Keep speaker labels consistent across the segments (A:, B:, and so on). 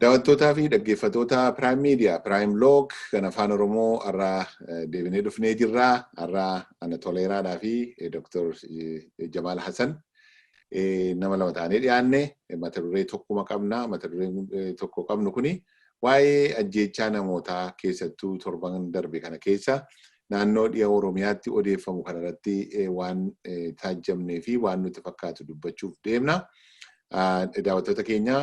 A: Daawwattootaa fi dhaggeeffatoota Prime Media, Prime Log kan Afaan Oromoo har'a deebinee dhufnee jirra. Har'a ana Toleeraadhaa fi Dr. Jamaal Hasan nama lama taanee dhiyaanne mata duree tokkuma qabna. Mata duree tokko qabnu kuni waa'ee ajjeechaa namootaa keessattuu torban darbe kana keessa naannoo dhiha Oromiyaatti odeeffamu kanarratti waan taajjabnee fi waan nutti fakkaatu dubbachuuf deemna. daawwattoota keenya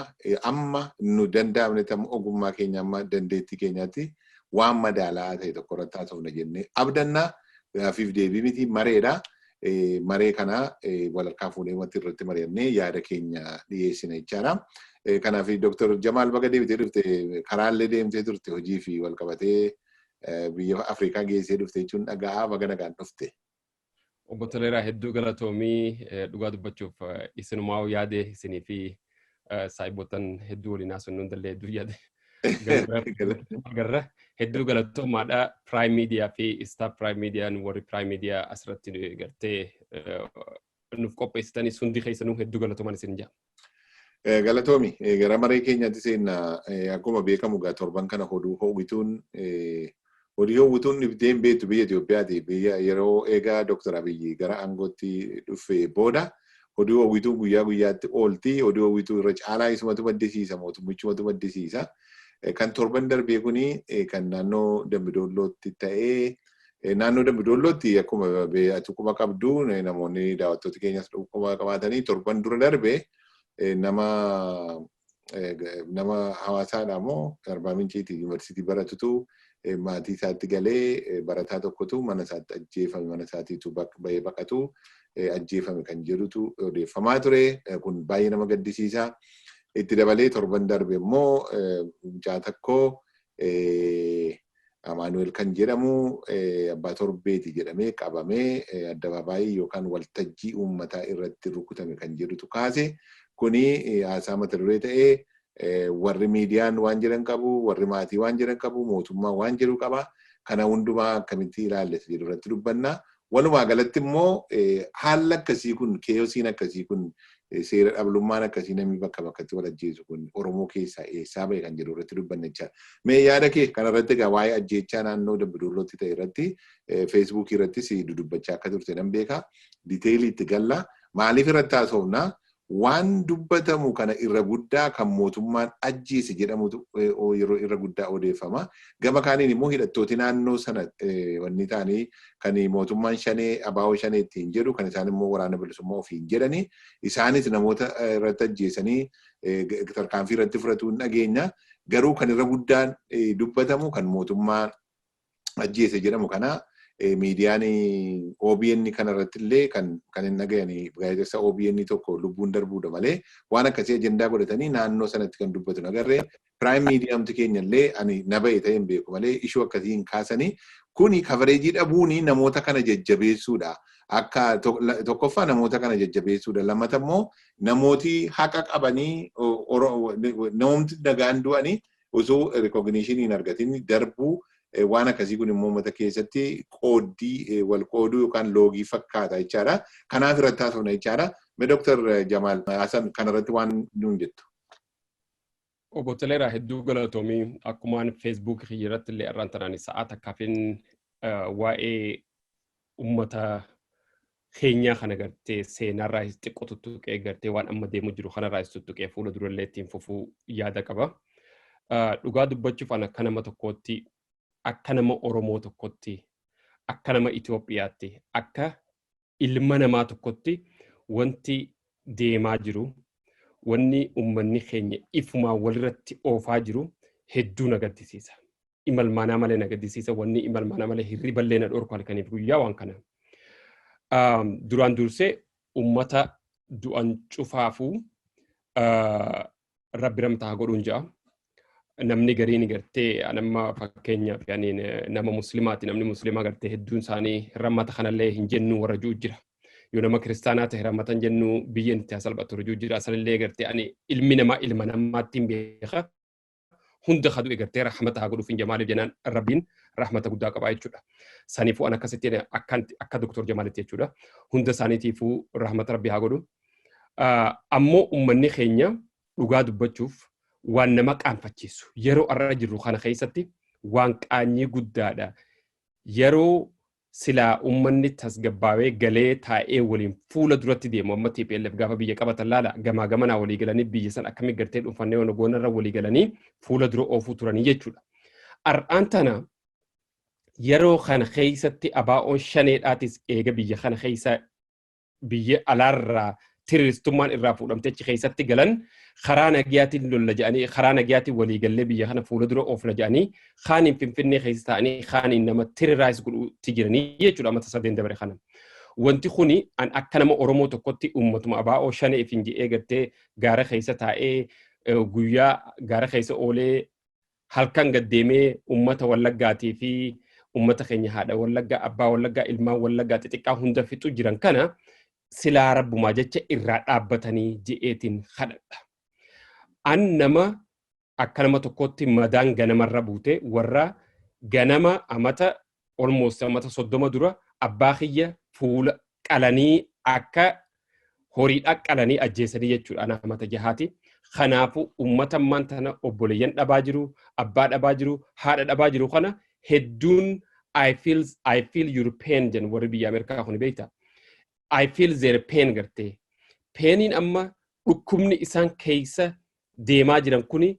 A: amma nu danda'amnetti amma ogummaa keenya amma dandeettii keenyaatti waan madaalaa ta'e tokko irratti haasofna jennee abdannaa gaafiif deebii miti mareedha. Maree kana walharkaa fuunee wanti irratti mari'annee yaada keenya dhiyeessina jechaadha. Kanaaf Dooktar Jamaal baga deebitee dhufte karaallee deemtee turte hojii fi walqabatee biyya Afrikaa geessee dhufte jechuun dhaga'aa baga nagaan dhufte. Obbo
B: Toleeraa hedduu galatoomii dhugaa dubbachuuf isinumaa yaade isinii fi saayibotan hedduu waliin haasofnu hundallee hedduu yaade. Garra hedduu galatoomaadha Prime Media fi Star Prime Media warri Prime Media asirratti gartee nuuf qopheessitanis hundi keessanuu hedduu galatoomaan isin jaa. Galatoomi
A: gara maree keenyaatti seenna akkuma beekamu gaa torban kana hoduu ho'ituun hodii ho'ituun dhibdee hin beektu biyya Itoophiyaati biyya yeroo eegaa Dooktar Abiyyi gara aangootti dhufe booda hodii ho'ituun guyyaa guyyaatti oolti hodii ho'ituu irra caalaa isumatu maddisiisa mootummichumatu maddisiisa kan torban darbee kuni kan naannoo Dambidoollootti ta'ee Naannoo Dambi Doollootti akkuma ati quba qabdu namoonni daawwattoota keenyas quba qabaatanii torban dura darbe nama nama hawaasaadha moo Arbaa Minciiti yuunivarsiitii baratutu maatii isaatti galee barataa tokkotu mana isaatti ajjeefame mana isaatiitu bahee baqatu ajjeefame kan jedhutu odeeffamaa ture kun baay'ee nama gaddisiisa. Itti dabalee torban darbe immoo mucaa tokko Amaanu'eel kan jedhamu abbaa torbeeti jedhamee qabamee addabaabaayii yookaan waltajjii uummataa irratti rukutame kan jedhutu kaase. Kuni haasaa mata duree ta'ee warri miidiyaan waan jedhan qabu, warri maatii waan jedhan qabu, mootummaan waan jedhu qaba. Kana hundumaa akkamitti ilaallessa jedhu irratti dubbanna. Walumaa galatti immoo haalli akkasii kun keeyosiin akkasii kun seera dhablummaan akkasii namni bakka bakkatti wal ajjeesu kun Oromoo keessaa eessaa ba'e kan jedhu irratti dubbanne jechaadha. Mee yaada kee kana irratti egaa waa'ee ajjeechaa naannoo Dambidollootti ta'e irratti feesbuukii irrattis dudubbachaa akka turte nan beeka. Diteelii itti galla. Maaliif irratti haasofna? Waan dubbatamu kana irra guddaa kan mootummaan ajjeese jedhamutu yeroo irra guddaa odeeffama. Gama kaaniin immoo hidhattooti naannoo sana wanni ta'anii kan mootummaan shanee abaawoo shanee ittiin jedhu kan isaan immoo waraana bilisummaa ofiin jedhani isaanis namoota irratti ajjeesanii tarkaanfii irratti fudhatu hin dhageenya. Garuu kan irra guddaan dubbatamu kan mootummaa ajjeese jedhamu kana miidiyaan OBN kanarratti illee kan kan hin dhagayan gaazexessa OBN tokko lubbuun darbuudha malee waan akkasii ajandaa godhatanii naannoo sanatti kan dubbatu nagarree piraayim miidiyaamti keenya illee ani na ba'e ta'e hin beeku malee ishuu akkasii hin kaasanii kuni kabareejii dhabuun namoota kana jajjabeessuudha. Akka tokkoffaa namoota kana jajjabeessuudha. Lammata immoo namooti haqa qabanii namoomti nagaan du'anii osoo recognition hin argatin darbuu waan akkasii kun immoo uummata keessatti qooddii wal qooduu yookaan loogii fakkaata jechaadha. Kanaaf irratti haasofna jechaadha. Mee Dooktar Jamaal Hasan kanarratti waan nuun jettu.
B: Obbo Toleeraa hedduu galatoomii akkumaan feesbuukii kiyya irratti illee irraan tanaan sa'aa takkaafin waa'ee ummata keenyaa kana gartee seenaarraa is xiqqoo tuttuqee gartee waan amma deemu jiru kanarraa is tuttuqee fuula durallee ittiin fufuu yaada qaba. Ah, Dhugaa dubbachuuf an akka nama tokkootti akka nama Oromoo tokkotti akka nama Itoophiyaatti akka ilma namaa tokkotti wanti deemaa jiru wanni ummanni keenya ifumaan walirratti oofaa jiru hedduu na gaddisiisa. imalmaanaa malee na gaddisiisa wanni imalmaanaa malee hirriballee na dhorku halkaniif guyyaa waan kana duraan dursee ummata du'an cufaafuu rabbi ramtaa godhuun ja'a. Namni gariin gartee nama fakkeenyaaf nama muslimaati namni muslimaa gartee hedduun isaanii ramata kanallee hin jennu warra jiru jira. Yoo nama kiristaanaa ta'e ramatan jennu biyyeen itti hasalphatu jiru jira. Sanillee gartee ani ilmi namaa ilma namaatti hin beeka. hunda ka du'e gartee rahmata haa godhuuf hin jamaaliif jenaan rabbiin rahmata guddaa qabaa jechuudha. Saniifuu an akkasitti jedhe akkanti akka doktor jamaalitti jechuudha. Hunda isaaniitiifuu rahmata rabbi haa godhu. Ah, Ammoo ummanni keenya dhugaa dubbachuuf waan nama qaanfachiisu yeroo arra jirru kana keessatti waan qaanyii guddaadha. Yeroo Silaa ummanni tasgabbaawee galee taa'ee waliin fuula duratti deemu amma tplf gaafa biyya qabatan laala gamaa gamanaa walii galanii biyya san akkami gartee dhuunfannee wana goona irra walii galanii fuula dura oofuu turanii jechuudha. Ar'aan tana yeroo kana keessatti abaa'oon shaneedhaatis eega biyya kana keessaa biyya alaarraa tiriristummaan irraa fuudhamtee achi keessatti galan karaa nagiyaatiin lolla jedhanii karaa nagiyaatiin walii gallee biyya kana fuula dura oofna jedhanii kaaniin finfinnee keessa ta'anii kaaniin nama tiriraayis godhuutti jiranii jechuudha mata sadeen dabare kana. Wanti kuni an akka nama Oromoo tokkotti uummatuma abaa'oo shanee ifin jedhee gartee gaara keessa taa'ee guyyaa gaara keessa oolee halkan gad deemee ummata wallaggaatii fi ummata keenya haadha wallaggaa abbaa wallaggaa ilmaan wallaggaa xixiqqaa hunda fixu jiran kana silaa rabbumaa jecha irraa dhaabbatanii je'eetiin kadhadha. An nama akka nama tokkootti madaan ganamarra buute warra ganama amata almost ammata soddoma dura abbaa kiyya fuula qalanii akka horiidha qalanii ajjeesanii jechuudha ana amata jahaati. Kanaafu ummata ammaan tana obboleeyyan dhabaa jiru, abbaa dhabaa jiru, haadha dhabaa jiru kana hedduun I feel, I feel your pain jedhan warri biyya Ameerikaa kun beekta. I feel their pain gartee. Peeniin amma dhukkubni isaan keessa deemaa jiran kuni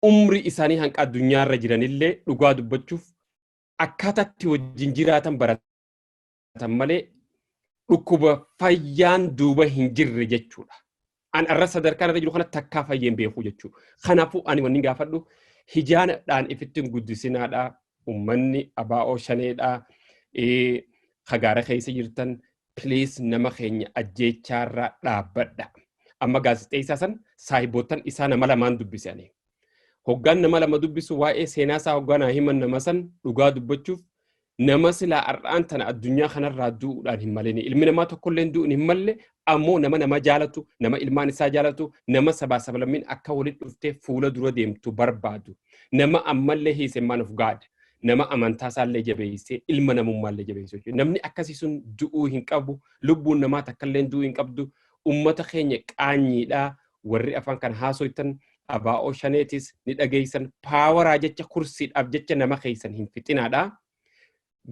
B: umrii isaanii hanqa addunyaa irra jiranillee dhugaa dubbachuuf akkaataa itti wajjin jiraatan baratan malee dhukkuba fayyaan duuba hin jirre jechuudha. An arra sadarkaan irra jiru kana takkaa fayyeen beekuu jechuudha. Kanaafuu ani wanni gaafadhu hijaanadhaan ifittiin guddisinaadhaa ummanni abaa'oo shaneedhaa kagaara keessa jirtan please nama keenya ajjeechaarraa dhaabbadha. Amma gaazexeessaa san saahiboottan isaa nama lamaan dubbise ani. Hoggaan nama lama dubbisu waa'ee seenaa isaa hoggaa naa himan nama san dhugaa dubbachuuf nama silaa har'aan tana addunyaa kanarraa du'uudhaan hin malini. Ilmi namaa tokkolleen du'uun hin malle ammoo nama nama jaalatu, nama ilmaan isaa jaalatu, nama sabaa sablammiin akka walitti dhuftee fuula dura deemtu barbaadu. Nama ammallee hiisemmaan of gaada. nama amantaa isaallee jabeessee ilma namummaallee jabeessuu jechuudha. Namni akkasii sun du'uu hin qabu, lubbuun namaa takkallee du'uu hin qabdu. Uummata keenya qaanyiidhaa warri afaan kana haasoftan abaa'oo shaneetis ni dhageessan paawaraa jecha kursiidhaaf jecha nama keessan hin fixinaadha.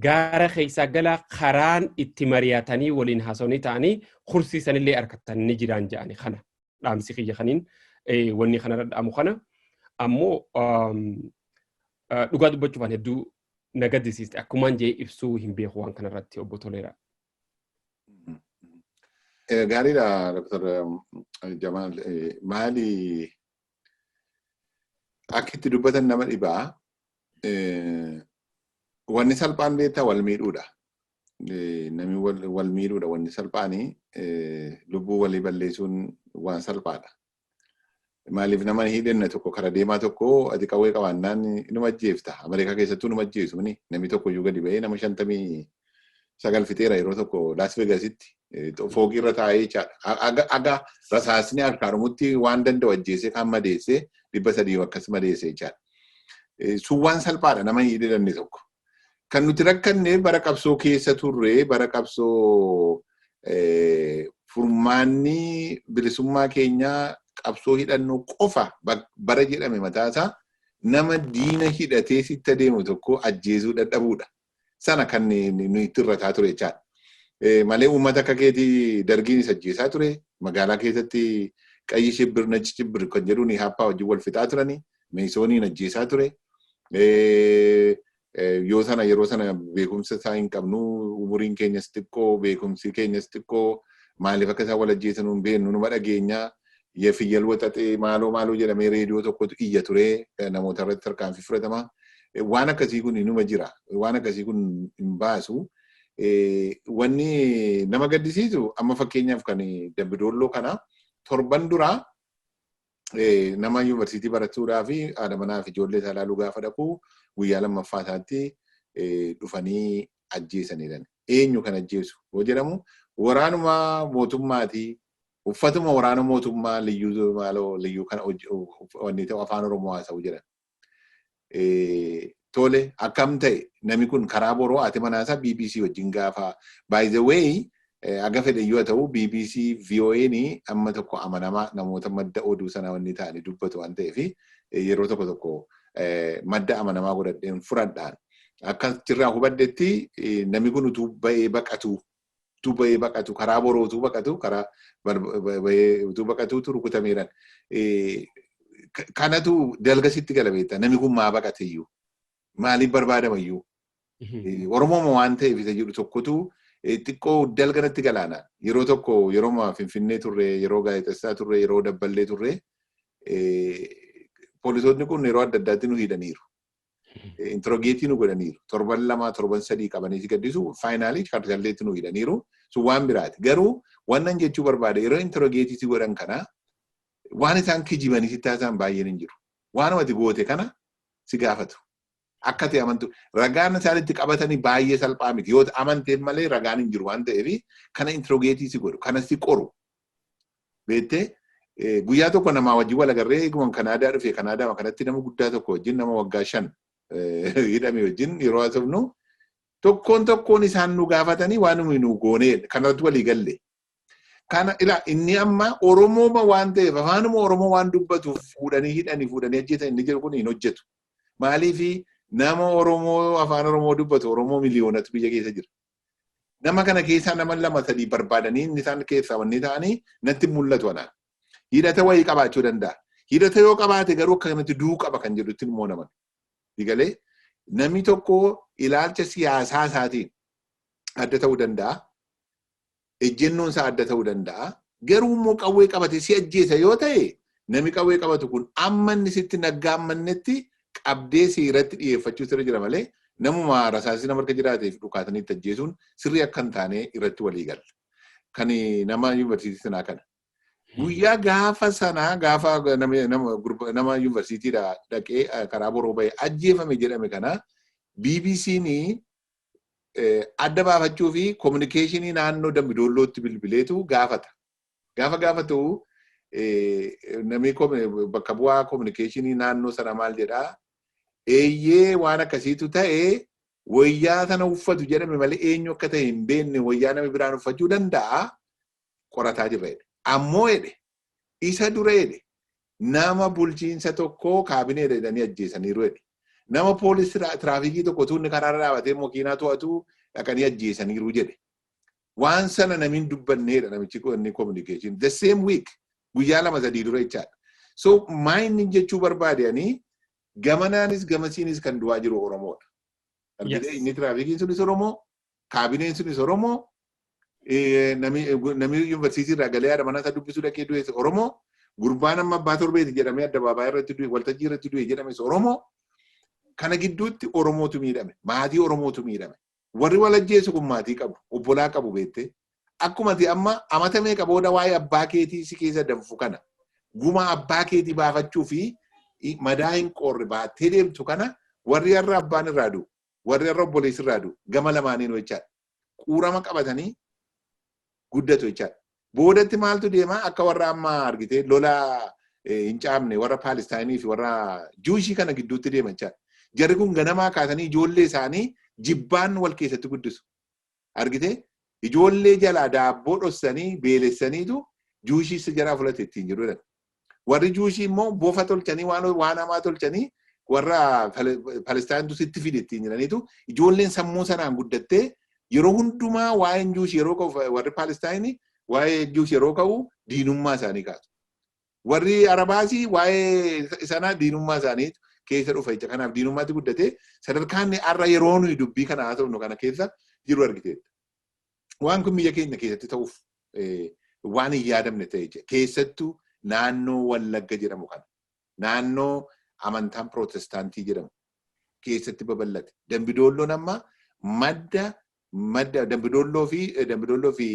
B: Gaara keessaa galaa karaan itti mari'atanii waliin haasofnii ta'anii kursii sanillee harkattan ni jiraan jedhani kana dhaamsi kiyya kaniin wanni kanarra dhaamu kana ammoo Dhugaa dubbachuuf an hedduu na gaddisiiste akkumaan jee ibsuu hin beeku waan kanarratti obbo Toleeraa.
A: Gaariidha Dr. Jamaal maali akka itti dubbatan nama dhibaa wanni salphaan beektaa wal miidhuudha. Namni wal miidhuudha wanni salphaanii lubbuu walii balleessuun waan salphaadha. Maaliif nama hidhanne tokko kara deemaa tokko ati qawwee qabaannaan numa ajjeefta. Ameerikaa keessattuu numa ajjeesu ni namni tokko iyyuu gadi ba'ee nama shantamii sagal fixeera yeroo tokko Las Vegasitti foogii irra taa'ee jechaadha. Aga aga rasaasni harkaa dhumutti waan danda'u ajjeesee kan madeessee dhibba sadii akkas madeessee jechaadha. Sun waan salphaadha nama hin hidhanne tokko. Kan nuti rakkanne bara qabsoo keessa turre bara qabsoo furmaanni bilisummaa keenyaa qabsoo hidhannoo qofa bara jedhame mataasaa nama diina hidhatee sitti adeemu tokko ajjeesuu dadhabuudha. Sana kan nuyi itti irrataa ture jechaadha. Malee uummata akka keetii dargiin isa ajjeesaa ture. Magaalaa keessatti qayyi shibbir nachi shibbir kan jedhuun haappaa wajjin wal fixaa turani. Meesooniin ajjeesaa ture. Yoo sana yeroo sana beekumsa isaa hin qabnu umuriin keenyas xiqqoo beekumsi keenyas xiqqoo maaliif akka isaan wal ajjeesan hin beeknu numa dhageenya. Fiyyal waxaxee maaloo maaloo jedhamee reediyoo tokkotu iyya ture namoota irratti tarkaanfii fudhatama. Waan akkasii kun numa jira. Waan akkasii kun hin baasu. Wanni nama gaddisiisu amma fakkeenyaaf kan dabbidoolloo kana torban duraa nama yuunivarsiitii barachuudhaa fi haadha manaa fi ijoollee isaa ilaaluu gaafa dhaqu guyyaa lammaffaa isaatti dhufanii ajjeesaniidhan. Eenyu kan ajjeesu yoo jedhamu waraanuma mootummaati. Uffatuma waraana mootummaa liyyuu maaloo liyyuu kana wanni ta'u afaan Oromoo haasa'u jedhan. Tole akkam ta'e nami kun karaa boroo haati manaa isaa BBC wajjin gaafa by the way aga fedhe yoo ta'u BBC VOA'n amma tokko amanamaa namoota madda oduu sana wanni ta'anii dubbatu waan ta'eef yeroo tokko tokko madda amanamaa godhadheen furadhaan akka jirraa hubadhetti nami kun utuu ba'ee baqatu utuu bahee baqatu karaa boroo utuu baqatu karaa bahee utuu baqatu utuu rukutameeran kanatu dalga sitti gala beektaa namni kun maa baqate iyyuu maaliif barbaadama iyyuu oromooma waan ta'eef isa jedhu tokkotu xiqqoo dalga natti galaana yeroo tokko yeroo finfinnee turre yeroo gaazexessaa turre yeroo dabballee turre poolisoonni kun yeroo adda addaatti nu hidhaniiru Intirogeetii nu godhaniiru. Torban lamaa torban sadii qabanii si gaddisu faayinaalii chaarjalleetti nu hidhaniiru. Sun waan biraati. Garuu wannan jechuu barbaade yeroo intirogeetii si godhan kana waan isaan kijibanii sitti haasa'an baay'een hin jiru. Waanuma ati goote kana si gaafatu. Akka ati amantu ragaan isaan itti qabatanii baay'ee salphaa miti. Yoo amanteef malee ragaan hin jiru waan ta'eef kana intirogeetii si godhu. Kana si qoru. Beettee guyyaa tokko namaa wajjin wal agarree eeguman Kanaadaa dhufe Kanaadaa kanatti nama guddaa tokko wajjin nama waggaa shan hidhame wajjin yeroo haasofnu tokkoon tokkoon isaan nu gaafatanii waan nuyi nu goonee kanarratti walii galle. Kana ilaa inni amma Oromooma waan ta'eef afaanuma Oromoo waan dubbatuuf fuudhanii hidhanii fuudhanii ajjeetan inni jedhu kun hin hojjetu. Maaliif nama Oromoo afaan Oromoo dubbatu Oromoo miliyoonatu biyya keessa jira. Nama kana keessaa nama lama sadii barbaadanii inni isaan keessaa wanni ta'anii natti mul'atu anaan. Hidhata wayii qabaachuu danda'a. Hidhata yoo qabaate garuu akka kanatti du'uu qaba kan jedhutti immoo naman. Digalee namni tokko ilaalcha siyaasaa isaatiin adda ta'uu danda'a. ejjennoon isaa adda ta'uu danda'a. Garuu immoo qawwee qabate si ajjeesa yoo ta'e nami qawwee qabatu kun amma inni sitti naggaa mannetti qabdee si irratti dhiyeeffachuu sirra jira malee namuma rasaasii nama harka jiraateef dhukaatanii itti ajjeesuun sirrii akka hin taane irratti walii galla. Kan nama yuunivarsiitii sanaa kana. Guyyaa gaafa sanaa gaafa nama yuunivarsiitiidha dhaqee karaa boroo bahee ajjeefame jedhame kana BBC'n adda baafachuu fi kominikeeshinii naannoo Dambi Doollootti bilbileetu gaafata. Gaafa gaafatu namni bakka bu'aa kominikeeshinii naannoo sana maal jedhaa? Eeyyee waan akkasiitu ta'e wayyaa sana uffatu jedhame malee eenyu akka ta'e hin beekne wayyaa nama biraan uffachuu danda'a qorataa jirra jedhe. Ammoo jedhe Isa dura jedhe nama bulchiinsa tokkoo kaabineedha jedhanii ajjeesaniiru jedhe. Nama poolis tiraafikii tokko utuu inni karaarra dhaabatee makiinaa to'atu dhaqanii ajjeesaniiru jedhe. Waan sana namiin dubbanneedha namichi inni communication. The same week guyyaa lama sadii dura jechaadha. So maayinni jechuu barbaade ani gamanaanis gamasiinis kan du'aa jiru Oromoodha. Argitee inni tiraafikiin sunis Oromoo Kaabineen sunis Oromoo namni yuunivarsiitii irraa galee haadha manaa isaa dubbisuu dhaqee du'es Oromoo gurbaan amma abbaa torbeeti jedhamee addabaabaayii irratti du'e waltajjii irratti du'e jedhames Oromoo kana gidduutti Oromootu miidhame maatii Oromootu miidhame warri wal ajjeesu kun maatii qabu obbolaa qabu beettee akkuma ati amma amata meeqa booda waa'ee abbaa keetii si keessa danfu kana guma abbaa keetii baafachuu fi madaa hin qoorre baattee deemtu kana warri har'a abbaan irraa du'u warri har'a obboleessi irraa du'u gama lamaaniinuu jechaadha. Quurama qabatanii guddatu jechaadha. Boodatti maaltu deema akka warra amma argitee lola hin caamne warra Paalistaayinii fi warra Juushii kana gidduutti deema jechaadha. Jarri kun ganamaa kaasanii ijoollee isaanii jibbaan wal keessatti guddisu. argitee ijoollee jalaa daabboo dhossanii beelessaniitu juushii isa jaraa fulatti ittiin jiru jedhan. Warri juushii immoo bofa tolchanii waan waan hamaa tolchanii warra Palestaayintu sitti fide ittiin jiraniitu ijoolleen sammuu sanaan guddattee yeroo hundumaa waa'een juushii yeroo ka'u warri Palestaayinii waa'ee juushii yeroo ka'u diinummaa isaanii kaatu. Warri Arabaas waa'ee sana diinummaa isaanii keessa dhufa jecha kanaaf diinummaatti guddate sadarkaan har'a yeroo nuyi dubbii kana haasofnu kana keessa jiru argiteetta. Waan kun biyya keenya keessatti ta'uuf waan hin yaadamne ta'e jecha keessattuu naannoo Wallagga jedhamu kana naannoo amantaan pirootestaantii jedhamu keessatti babal'ate. Dambidoolloon amma madda Madda Dambi Dolloo fi Dambi Dolloo fi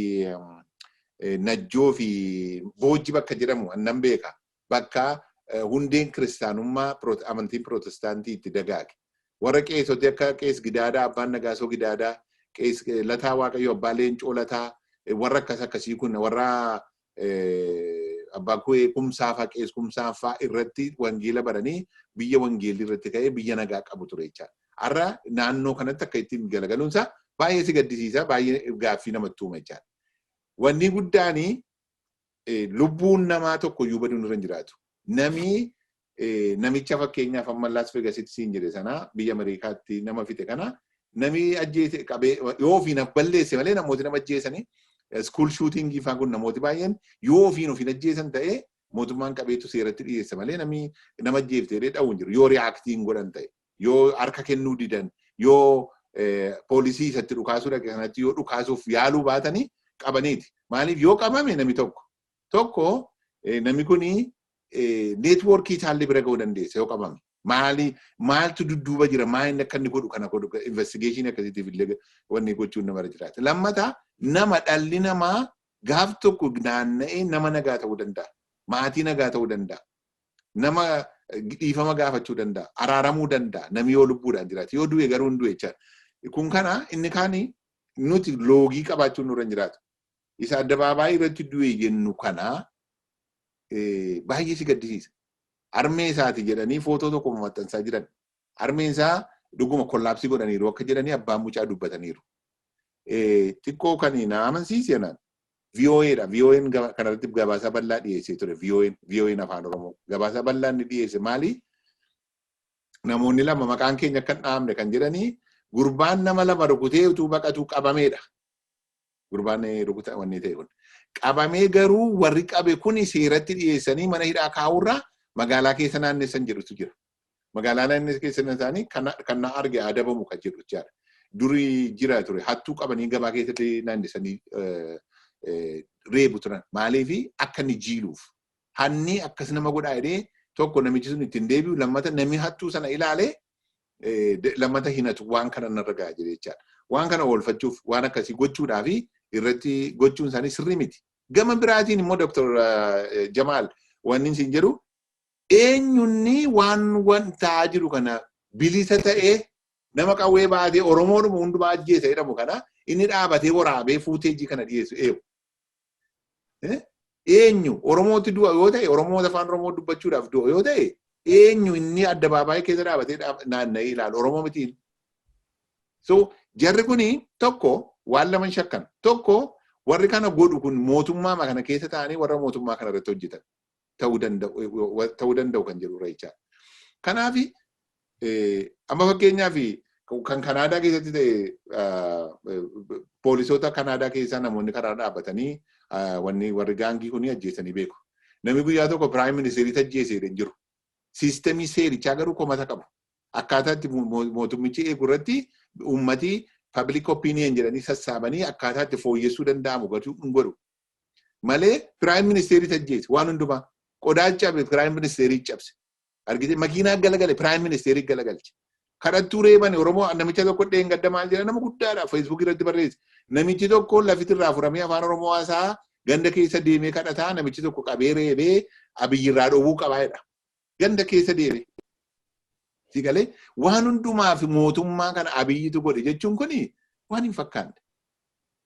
A: Najjoo fi Boojji bakka jedhamu annan beeka. Bakka hundeen kiristaanummaa amantiin pirootestaantii itti dagaage. Warra qeesoti akka qees Gidaadaa, Abbaan Nagaasoo Gidaadaa, qees Lataa Waaqayyo, Abbaa Leencoo Lataa, warra akkas akkasii kun warra abbaa kuwee kumsaa faa qees kumsaa faa irratti wangeela baranii biyya wangeelli irratti ka'ee biyya nagaa qabu ture jechaadha. Har'a naannoo kanatti akka ittiin galagaluun isaa baay'ee si gaddisiisa baay'ee gaaffii namatti uuma jechaadha. Wanni guddaan lubbuun namaa tokko iyyuu baduun irra hin jiraatu. Namni namicha fakkeenyaaf amma Las Vegasitti siin jedhe sana biyya Ameerikaatti nama fixe kana nami ajjeese qabee yoo ofiin balleesse malee namooti nama ajjeesanii school shooting faan kun namooti baay'een yoo ofiin ofiin ajjeesan ta'ee mootummaan qabeetu seeratti dhiyeessa malee nami nama ajjeefte jedhee dha'u hin jiru yoo reaaktiin godhan ta'e yoo harka kennuu didan yoo poolisii isatti dhukaasuu dhaqe sanatti yoo dhukaasuuf yaaluu baatanii qabaniiti maaliif yoo qabame nami tokko Tokko namni kun neetwoorkii isaallee bira ga'uu dandeessa yoo qabame. Maali maaltu dudduuba jira maal inni akka inni godhu kana godhu investigeeshinii akkasiitiif illee wanni gochuun namarra jiraata. Lammata nama dhalli namaa gaaf tokko naanna'ee nama nagaa ta'uu danda'a. Maatii nagaa ta'uu danda'a. Nama dhiifama gaafachuu danda'a. Araaramuu danda'a. Namni yoo lubbuudhaan jiraate yoo du'e garuu hin du'e jechaadha. Kun kana inni kaan nuti loogii qabaachuun nurra hin jiraatu. isa addabaabaayii irratti du'e jennu kana baay'ee si gaddisiisa. Armee isaati jedhanii footoo tokko maxxansaa jiran. Armeen isaa dhuguma kollaapsii godhaniiru akka jedhanii abbaan mucaa dubbataniiru. Xiqqoo kan na amansiise naan VOA dha. VOA'n kanarratti gabaasaa bal'aa dhiyeessee ture. VOA'n VOA'n afaan Oromoo gabaasaa bal'aa inni dhiyeesse maali? Namoonni lama maqaan keenya akka hin dhahamne kan jedhanii gurbaan nama lama rukutee utuu baqatuu qabameedha. gurbaan rukuta wanni ta'e kun. Qabamee garuu warri qabe kun seeratti dhiyeessanii mana hidhaa kaa'uurraa magaalaa keessa naannessan jedhutu jira. Magaalaa naannessan keessa isaanii kan na arge adabamu kan jedhu jechaadha. Duri jira ture hattuu qabanii gabaa keessatti naannessanii reebu turan. Maaliif akka inni jiiluuf. Hanni akkas nama godhaa jedhee tokko namichi sun ittiin deebi'u lammata namni hattuu sana ilaalee lammata hinatu waan kana narra ga'a jedhee jechaadha. Waan kana oolfachuuf waan akkasii gochuudhaa fi irratti gochuun isaanii sirrii miti. Gama biraatiin immoo Dr. Jamaal wanni isin jedhu eenyunni waan waan ta'aa jiru kana bilisa ta'ee nama qawwee baatee Oromoodhuma hundumaa ajjeesa jedhamu kana inni dhaabatee waraabee fuuteejii kana dhiyeessu eewu. Eenyu Oromootti du'a yoo ta'e Oromoota afaan Oromoo dubbachuudhaaf du'a yoo ta'e eenyu inni addabaabaayii keessa dhaabatee naanna'ee ilaalu Oromoo mitiin. So jarri kuni tokko waan laman shakkan tokko warri kana godhu kun mootummaa kana keessa ta'anii warra mootummaa kana irratti hojjetan ta'uu danda'u kan jedhudha jechaadha. Kanaaf amma fakkeenyaaf kan Kanaadaa keessatti ta'e poolisoota Kanaadaa keessaa namoonni karaa dhaabbatanii wanni warri gaangii kun ajjeesanii beeku. Namni guyyaa tokko piraayim ministeeriitti ajjeesee hin jiru. Siistemii seerichaa garuu komata qabu. Akkaataa itti mootummichi eegu irratti uummati pabliik opiiniyen jedhanii sassaabanii akkaataa itti fooyyessuu danda'amu gatuu hin godhu. malee piraayim ministeeriitu ajjeese waan hundumaa qodaa cabe piraayim ministeerii cabse argite makiinaa galagale piraayim ministeerii galagalche kadhattuu reebani oromoo namicha tokko dheengadda maal jedha nama guddaadha feesbuukii irratti barreesse namichi tokko lafiti irraa furamee afaan oromoo haasaa ganda keessa deemee kadhataa namichi tokko qabee reebee abiyyi irraa dhowwuu qabaa jedha ganda keessa deeme. Si galee waan hundumaaf mootummaa kana abiyyitu godhe jechuun kun waan hin fakkaanne.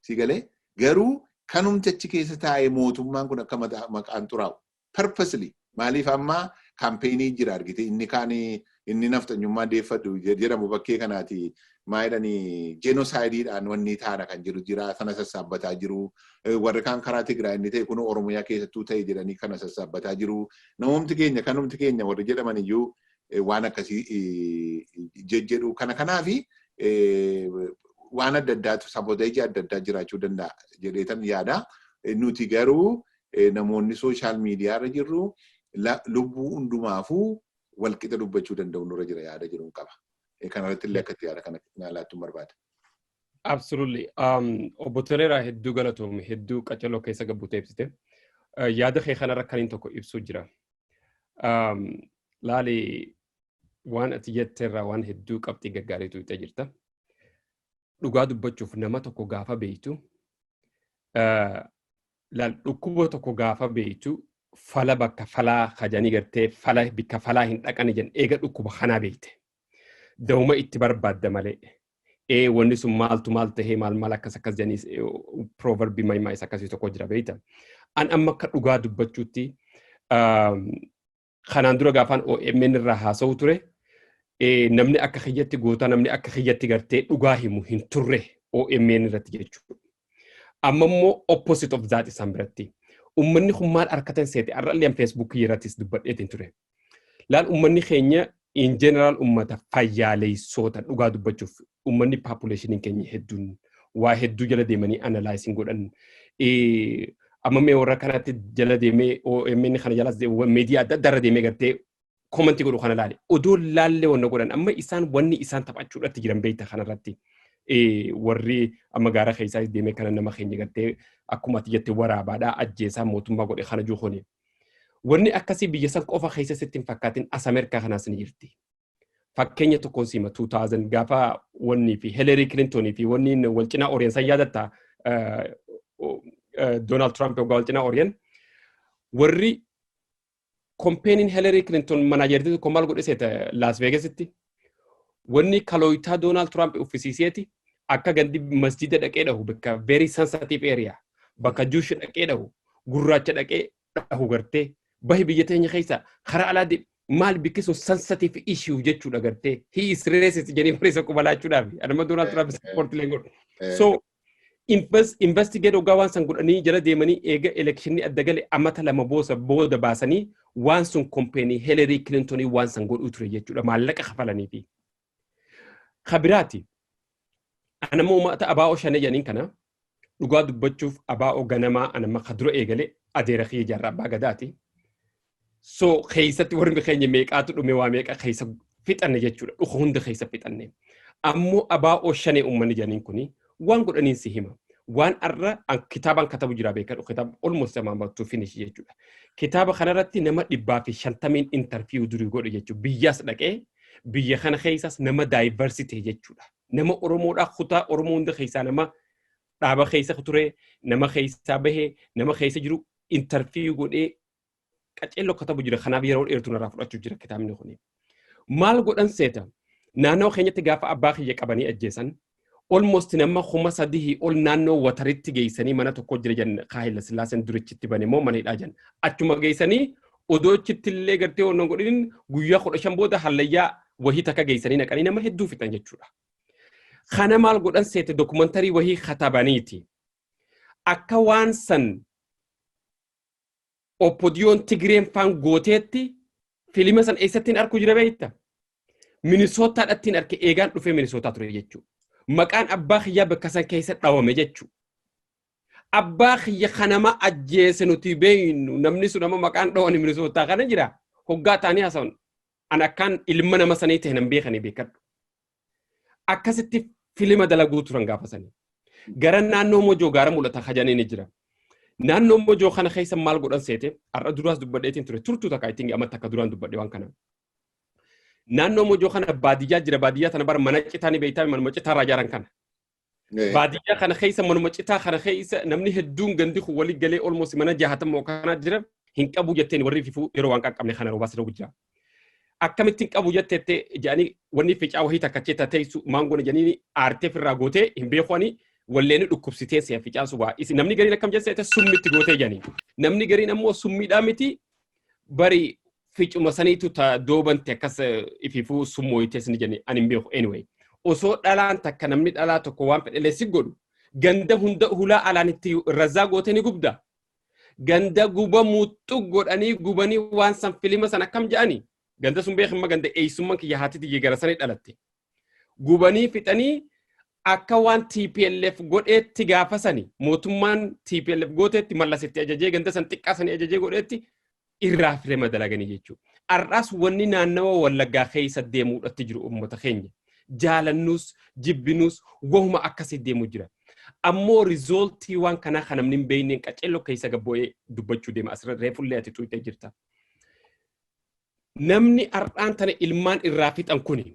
A: Si galee garuu kanumti achi keessa taa'ee mootummaan kun akka maqaan xuraa'u. Purposely maaliif amma kaampeenii jira argite inni kaan inni nafxanyummaa deeffadhu jedhamu bakkee kanaati maa jedhani jeenosaayidiidhaan wanni taana kan jedhu jira sana sassaabbataa jiru warri kaan karaa Tigraay inni ta'e kun Oromiyaa keessattuu ta'e jedhanii kana sassaabbataa jiru namoomti keenya kanumti keenya warri jedhaman iyyuu waan akkasii jejjedhu kana kanaafi waan adda addaatu saboteeji adda addaa jiraachuu danda'a jedheetan yaada nuti garuu namoonni sooshaal miidiyaa irra jirru lubbuu hundumaafuu walqixa dubbachuu danda'u nurra jira yaada jedhuun qaba. Kanarratti illee akka itti yaada kana naa laattuun barbaada. Absolutely.
B: Obbo Toleeraa hedduu galatoomi hedduu qaceloo keessa gabbutee ibsite. Yaada kee kanarra kaniin tokko ibsuu jira. Laali waan ati jetteerraa waan hedduu qabxii gaggaariitu itti jirta. Dhugaa dubbachuuf nama tokko gaafa beektu Laal dhukkuba tokko gaafa beektu fala bakka falaa kajanii gartee fala bikka falaa hin dhaqani jan eega dhukkuba kanaa beekte dawuma itti barbaadda malee ee wanni sun maaltu maal tahee maal maal akkas akkas janiis proverbi mayimaa isa akkasii tokko jira beekta an amma akka dhugaa dubbachuutti kanaan dura gaafaan OMN irraa haasa'u ture namni akka kiyyatti goota namni akka kiyyatti gartee dhugaa himu hin turre OMN irratti jechuudha. Amma immoo opposite of that isaan biratti. Uummanni kun maal harkatan seete har'allee an feesbuukii irrattis dubbadheetiin ture. Laal uummanni keenya in general ummata fayyaaleessoota dhugaa dubbachuuf ummanni population keenya hedduun waa hedduu jala deemanii analyze hin godhan. Eh, Amma mee warra kanatti jala deemee OMN kana jalas media adda addaa irra deemee gartee komantii godhu kana laale. Odoo laallee wanna godhan amma isaan wanni isaan taphachuudhaatti jiran beekta kanarratti. Eh, Warri amma gaara keessaa deemee kana nama keenya gartee akkuma ati jette waraabaadhaa ajjeesaa mootummaa godhe kana juu kuni. Wanni akkasii biyya san qofa keessa sitti hin fakkaatin as Ameerikaa kanaas ni jirti. Fakkeenya tokkoon sima 2000 gaafa wannii fi Hillary Clinton fi wanniin wal cinaa Orient san yaadatta Donald Trump waggaa wal cinaa Orient warri kompeeniin Hillary Clinton manaajertii tokko maal godhe seeta Las Vegas itti Wanni kalooytaa Doonaald Tiraamp uffisiiseeti akka gandi masjida dhaqee dhahu bakka very sensitive area bakka juush dhaqee dhahu gurraacha dhaqee dhahu gartee bahi biyya teenya keessa karaa alaa deem maal bikki sun sensitive issue jechuudha gartee he is racist jedhee barreessa quba laachuudhaaf anuma Doonaald Tiraamp support leen godhu. So Investigeet oggaa waan san godhanii jala deemanii eega elekshinni adda gale amata lama boosa booda baasanii waan sun kompeenii Helerii Kilintonii waan san godhuu ture jechuudha maallaqa kafalanii fi. Kabiraati anammoo uummata abaa'oo shanee jedhaniin kana dhugaa dubbachuuf abaa'oo ganamaa anamma ka dura eegale adeera kiyya jaarraa abbaa gadaati. So keessatti warri keenya meeqaatu dhume waa meeqa keessa fixanne jechuudha. Dhuka hunda keessa fixanne. Ammoo abaa ooshanee uummanni jedhaniin kuni waan godhaniin si hima. Waan arra an- kitaabaan katabu jira beekaa dhufu kitaaba almost amaan baattuu finish jechuudha. Kitaaba kanarratti nama dhibbaa fi shantamiin interview durii godhe jechuudha. Biyyaas dhaqee biyya kana keessaas nama diversity jechuudha. Nama Oromoodhaa kutaa Oromoo hunda keessaa nama dhaaba keessa ture, nama keessaa bahe, nama keessa jiru interview godhee qaceelloo katabu jira kanaaf yeroo dheertuu narraa fudhachuu jira kitaabni kun. Maal godhan seeta naannoo keenyatti gaafa abbaa kiyya qabanii ajjeesan almost nama kuma sadihii ol naannoo wataritti geessanii mana tokko jira jan kaahila sillaaseen durichitti bane moo mana hidhaa jan achuma geessanii odoo achitti illee gartee waan godhin guyyaa kudha shan booda hallayyaa wahii takka geessanii naqanii nama hedduu fixan jechuudha. Kana maal godhan seete dokumantarii wahii katabaniiti. Akka waan san Oppodiyoon Tigireen faan gooteetti filima san eessattiin arku jira beekta? Minisootaadhattiin arke eegaan dhufee minisootaa ture jechuu. Maqaan abbaa kiyyaa bakka san keessa dhawame jechuu. Abbaa kiyya kanama ajjeese nuti beeynu namni sun amma maqaan dhawani minisootaa kana jira. Hoggaa taanii haasawnu. An akkaan ilma nama sanii ta'e nan beekanii beekadhu. akkasitti filima dalaguu turan gaafa sanii. Gara naannoo mojoo gaara mul'ata hajanii ni jira. Naannoo mojoo kana keessa maal godhan seete har'a duraas dubbadheetiin ture turtuu takka ittiin amma takka duraan dubbadhe waan kana. Naannoo mojoo kana baadiyyaa jira baadiyyaa tana bara mana citaa ni beektaa mana citaa irraa ijaaran kana. Baadiyyaa kana keessa manuma citaa kana keessa namni hedduun gandi kun walii galee olmoos mana jahatama kanaa jira hin qabu jetteen warri fifuu yeroo waan qaqqabne kana roobaas roobu jira. Akkamittiin qabu jetteettee jedhanii wanni ficaa wahii takka chee tateessu maangoon jedhanii aartee firraa gootee hin beekuwanii walleeni dhukkubsitee si'a ficaa subaa. Namni gariin akkam jette summitti gootee jedhanii. Namni gariin ammoo summiidhaa miti bari ficuma saniitu ta doobante akkas ififuu summooyitee sini jenne ani hin beeku anyway osoo dhalaan takka namni dhalaa tokko waan fedhelee si godhu ganda hunda hulaa alaan itti razaa gootee ni gubda ganda guba muuxxu godhanii gubanii waan san filima san akkam ja'ani ganda sun beekamma ganda eeysumman kiyya haati tiyya gara sanii dhalatte Gubanii fixanii akka waan TPLF godheetti gaafa sani mootummaan TPLF gooteetti mallasitti ajajee ganda san xiqqaa sani ajajee godheetti irraa firee madalaganii jechuudha. Har'aas wanni naannawa wallaggaa keessa deemuudhatti jiru uummata keenya. Jaalannuus jibbinuus wahuma akkasii deemu jira. Ammoo rizooltii waan kanaa kan namni hin beekneen qaceelloo keessa gabbo'ee dubbachuu deema. Asirra reefullee ati xuuxee jirta. namni har'aan tana ilmaan irraa fixan kuni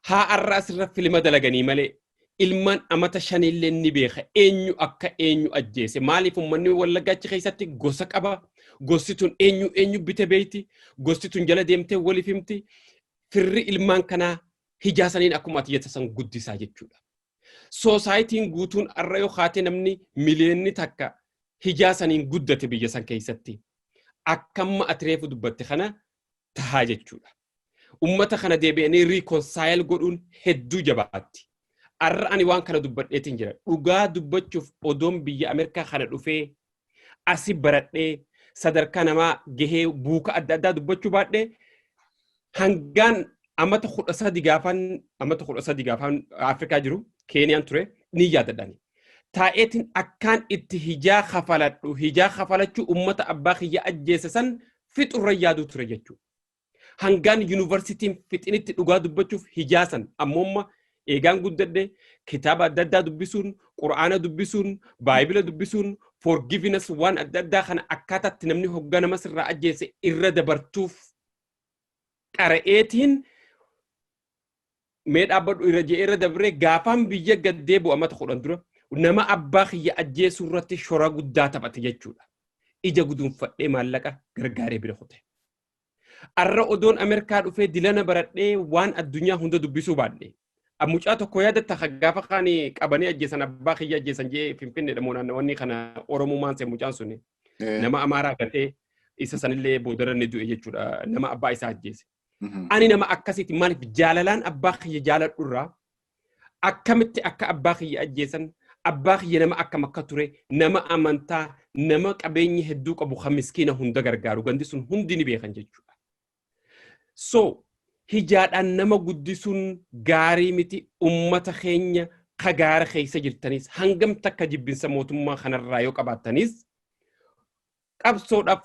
B: haa har'aa sirra filima dalaganii malee ilmaan amata shanillee ni beeka eenyu akka eenyu ajjeese maaliif ummanni wallaggaa achi keessatti gosa qaba gosti tun eenyu eenyu bite beeyti gosti tun jala deemtee waliif himti firri ilmaan kanaa hijaasaniin akkuma ati jettu san guddisaa jechuudha. Soosaayitiin guutuun har'a yoo kaatee namni miliyoonni takka hijaa saniin guddate biyya san keessatti akka amma ati reefu dubbatte kana tahaa jechuudha. Ummata kana deebi'anii riikonsaayil godhuun hedduu jabaatti. Har'a ani waan kana dubbadheetiin jira. Dhugaa dubbachuuf odoon biyya Ameerikaa kana dhufee asi baradhee sadarkaa namaa gahee buuka adda addaa dubbachuu baadhee hangaan amata kudha sadi gaafan amata kudha sadi gaafan Afrikaa jiru Keeniyaan ture ni yaadadhani. Taa'eetiin akkaan itti hijaa kafaladhu hijaa kafalachuu ummata abbaa kiyya ajjeese san fixurra yaaduu ture jechuudha. Hangaan yuunivarsiitiin fixinitti dhugaa dubbachuuf hijaasan ammoomma eegaan guddadhe kitaaba adda addaa dubbisuun, qura'aana dubbisuun, baayibila dubbisuun, forgiveness waan adda addaa kana akkaataatti namni hoggaa nama sirraa ajjeese irra dabartuuf qara'eetiin mee dhaabbadhu irra je'ee irra dabree gaafaan biyya gaddee bu'a mata kudhan dura nama abbaa kiyya ajjeesuu irratti shora guddaa taphate jechuudha. Ija guduunfadhee maallaqa gargaaree bira kute. Arra odoon Amerkaa dhufee dilana baradhee waan addunyaa hunda dubbisuu baadhe. Mucaa tokko yaadatta ka gaafa kaan qabanii ajjeesan abbaa kiyya ajjeesan jee finfinneedha moo naannawanni kana Oromumaan se'e mucaan suni. Nama Amaaraa gatee isa sanillee boodarra ni du'e jechuudha nama abbaa isaa ajjeese. Ani nama akkasiiti maaliif jaalalaan abbaa kiyya jaaladhurraa akkamitti akka abbaa kiyya ajjeesan abbaa kiyya nama akkam akka ture nama amantaa nama qabeenyi hedduu qabu kan miskiina hunda gargaaru gandi sun hundi ni beekan jechuudha. So hijaadhaan nama guddisuun gaarii miti ummata keenya ka gaara keessa jirtanis hangam takka jibbinsa mootummaa kanarraa yoo qabaattanis qabsoodhaaf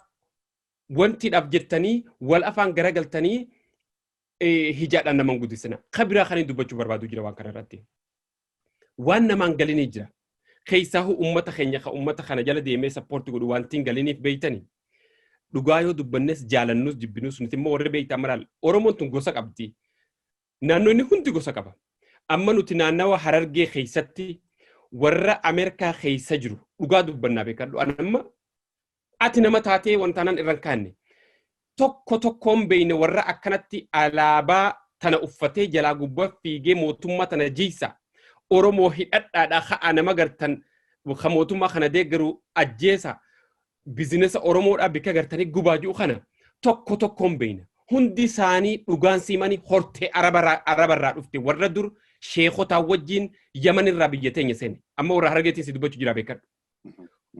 B: wantiidhaaf jettanii wal afaan garagaltanii hijaadhaan naman gudisina. Kabiraa kanin dubbachuu barbaadu jira waan kana irratti. Waan namaan galinii jira. Keessaahuu uummata keenya kan uummata kana jala deemee sappoorti godhu wantiin galiniif beeytani. Dhugaa yoo dubbannes jaalannus jibbinus nuti immoo warri beeytaan maraal Oromoon tun gosa qabdi. Naannoo inni hundi gosa qaba. Amma nuti naannawa harargee keessatti warra Ameerikaa keessa jiru dhugaa dubbannaa beekadhu. Anamma Ati nama taatee wantaanan irra hin kaanne. Tokko tokkoon beeyne warra akkanatti alaabaa tana uffatee jalaa gubbaa fiigee mootummaa tana jiysa. Oromoo hidhadhaadha ka'aa nama gartan ka mootummaa kana deeggaru ajjeesa. Bizinesa Oromoodhaa bikka gartanii gubaa ji'u kana tokko tokkoon beeyna. Hundi isaanii dhugaan siimanii hortee arabarraa arabarraa dhufte warra dur sheekotaa wajjiin yamanirraa biyya teenya seene. Amma warra harageetiin si dubbachuu jira beekadhu.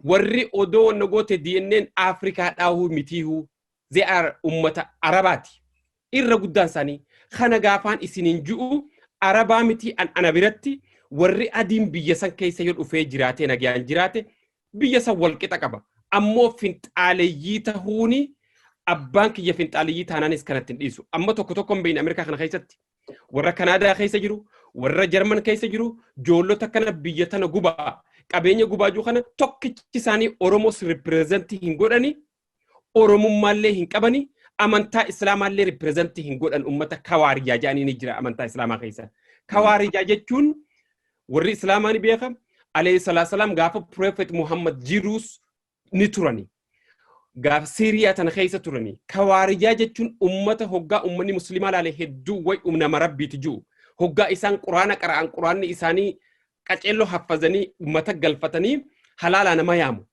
B: warri odoo wanna goote DNAn Afrikaa dhaahuu mitiihuu they are ummata Arabaati irra guddaan isaanii kana gaafaan isiniin ju'u Arabaa mitii an ana biratti warri adiin biyya san keessa yoo dhufee jiraatee nagayaan jiraate biyya san walqixa qaba ammoo finxaaleyyii tahuuni abbaan kiyya finxaaleyyii taanaanis kanatti hin dhiisu amma tokko tokko hin beekne Ameerikaa kana keessatti Warra Kanaadaa keessa jiru, warra Jarman keessa jiru, joollota kana biyya tana gubaa, qabeenya gubaa jiru kana tokkichi isaanii Oromoos ripireezantii hin godhani, Oromummaallee hin qabani, amantaa Islaamaallee ripireezantii hin godhan uummata kawaarijaa jedhanii ni jira amantaa Islaamaa keessa. Kawaarijaa jechuun warri Islaamaa ni beeka. Alayhi salaam gaafa Prophet Muhammad jiruus ni turani. Gaaf Siiriyaa tana keessa turani. Kawaarijaa jechuun ummata hoggaa ummanni muslimaa laale hedduu way umnama rabbiiti ji'u. Hoggaa isaan quraana qara'an quraanni isaanii qaceelloo haffazanii ummata galfatanii halaalaa nama yaamu.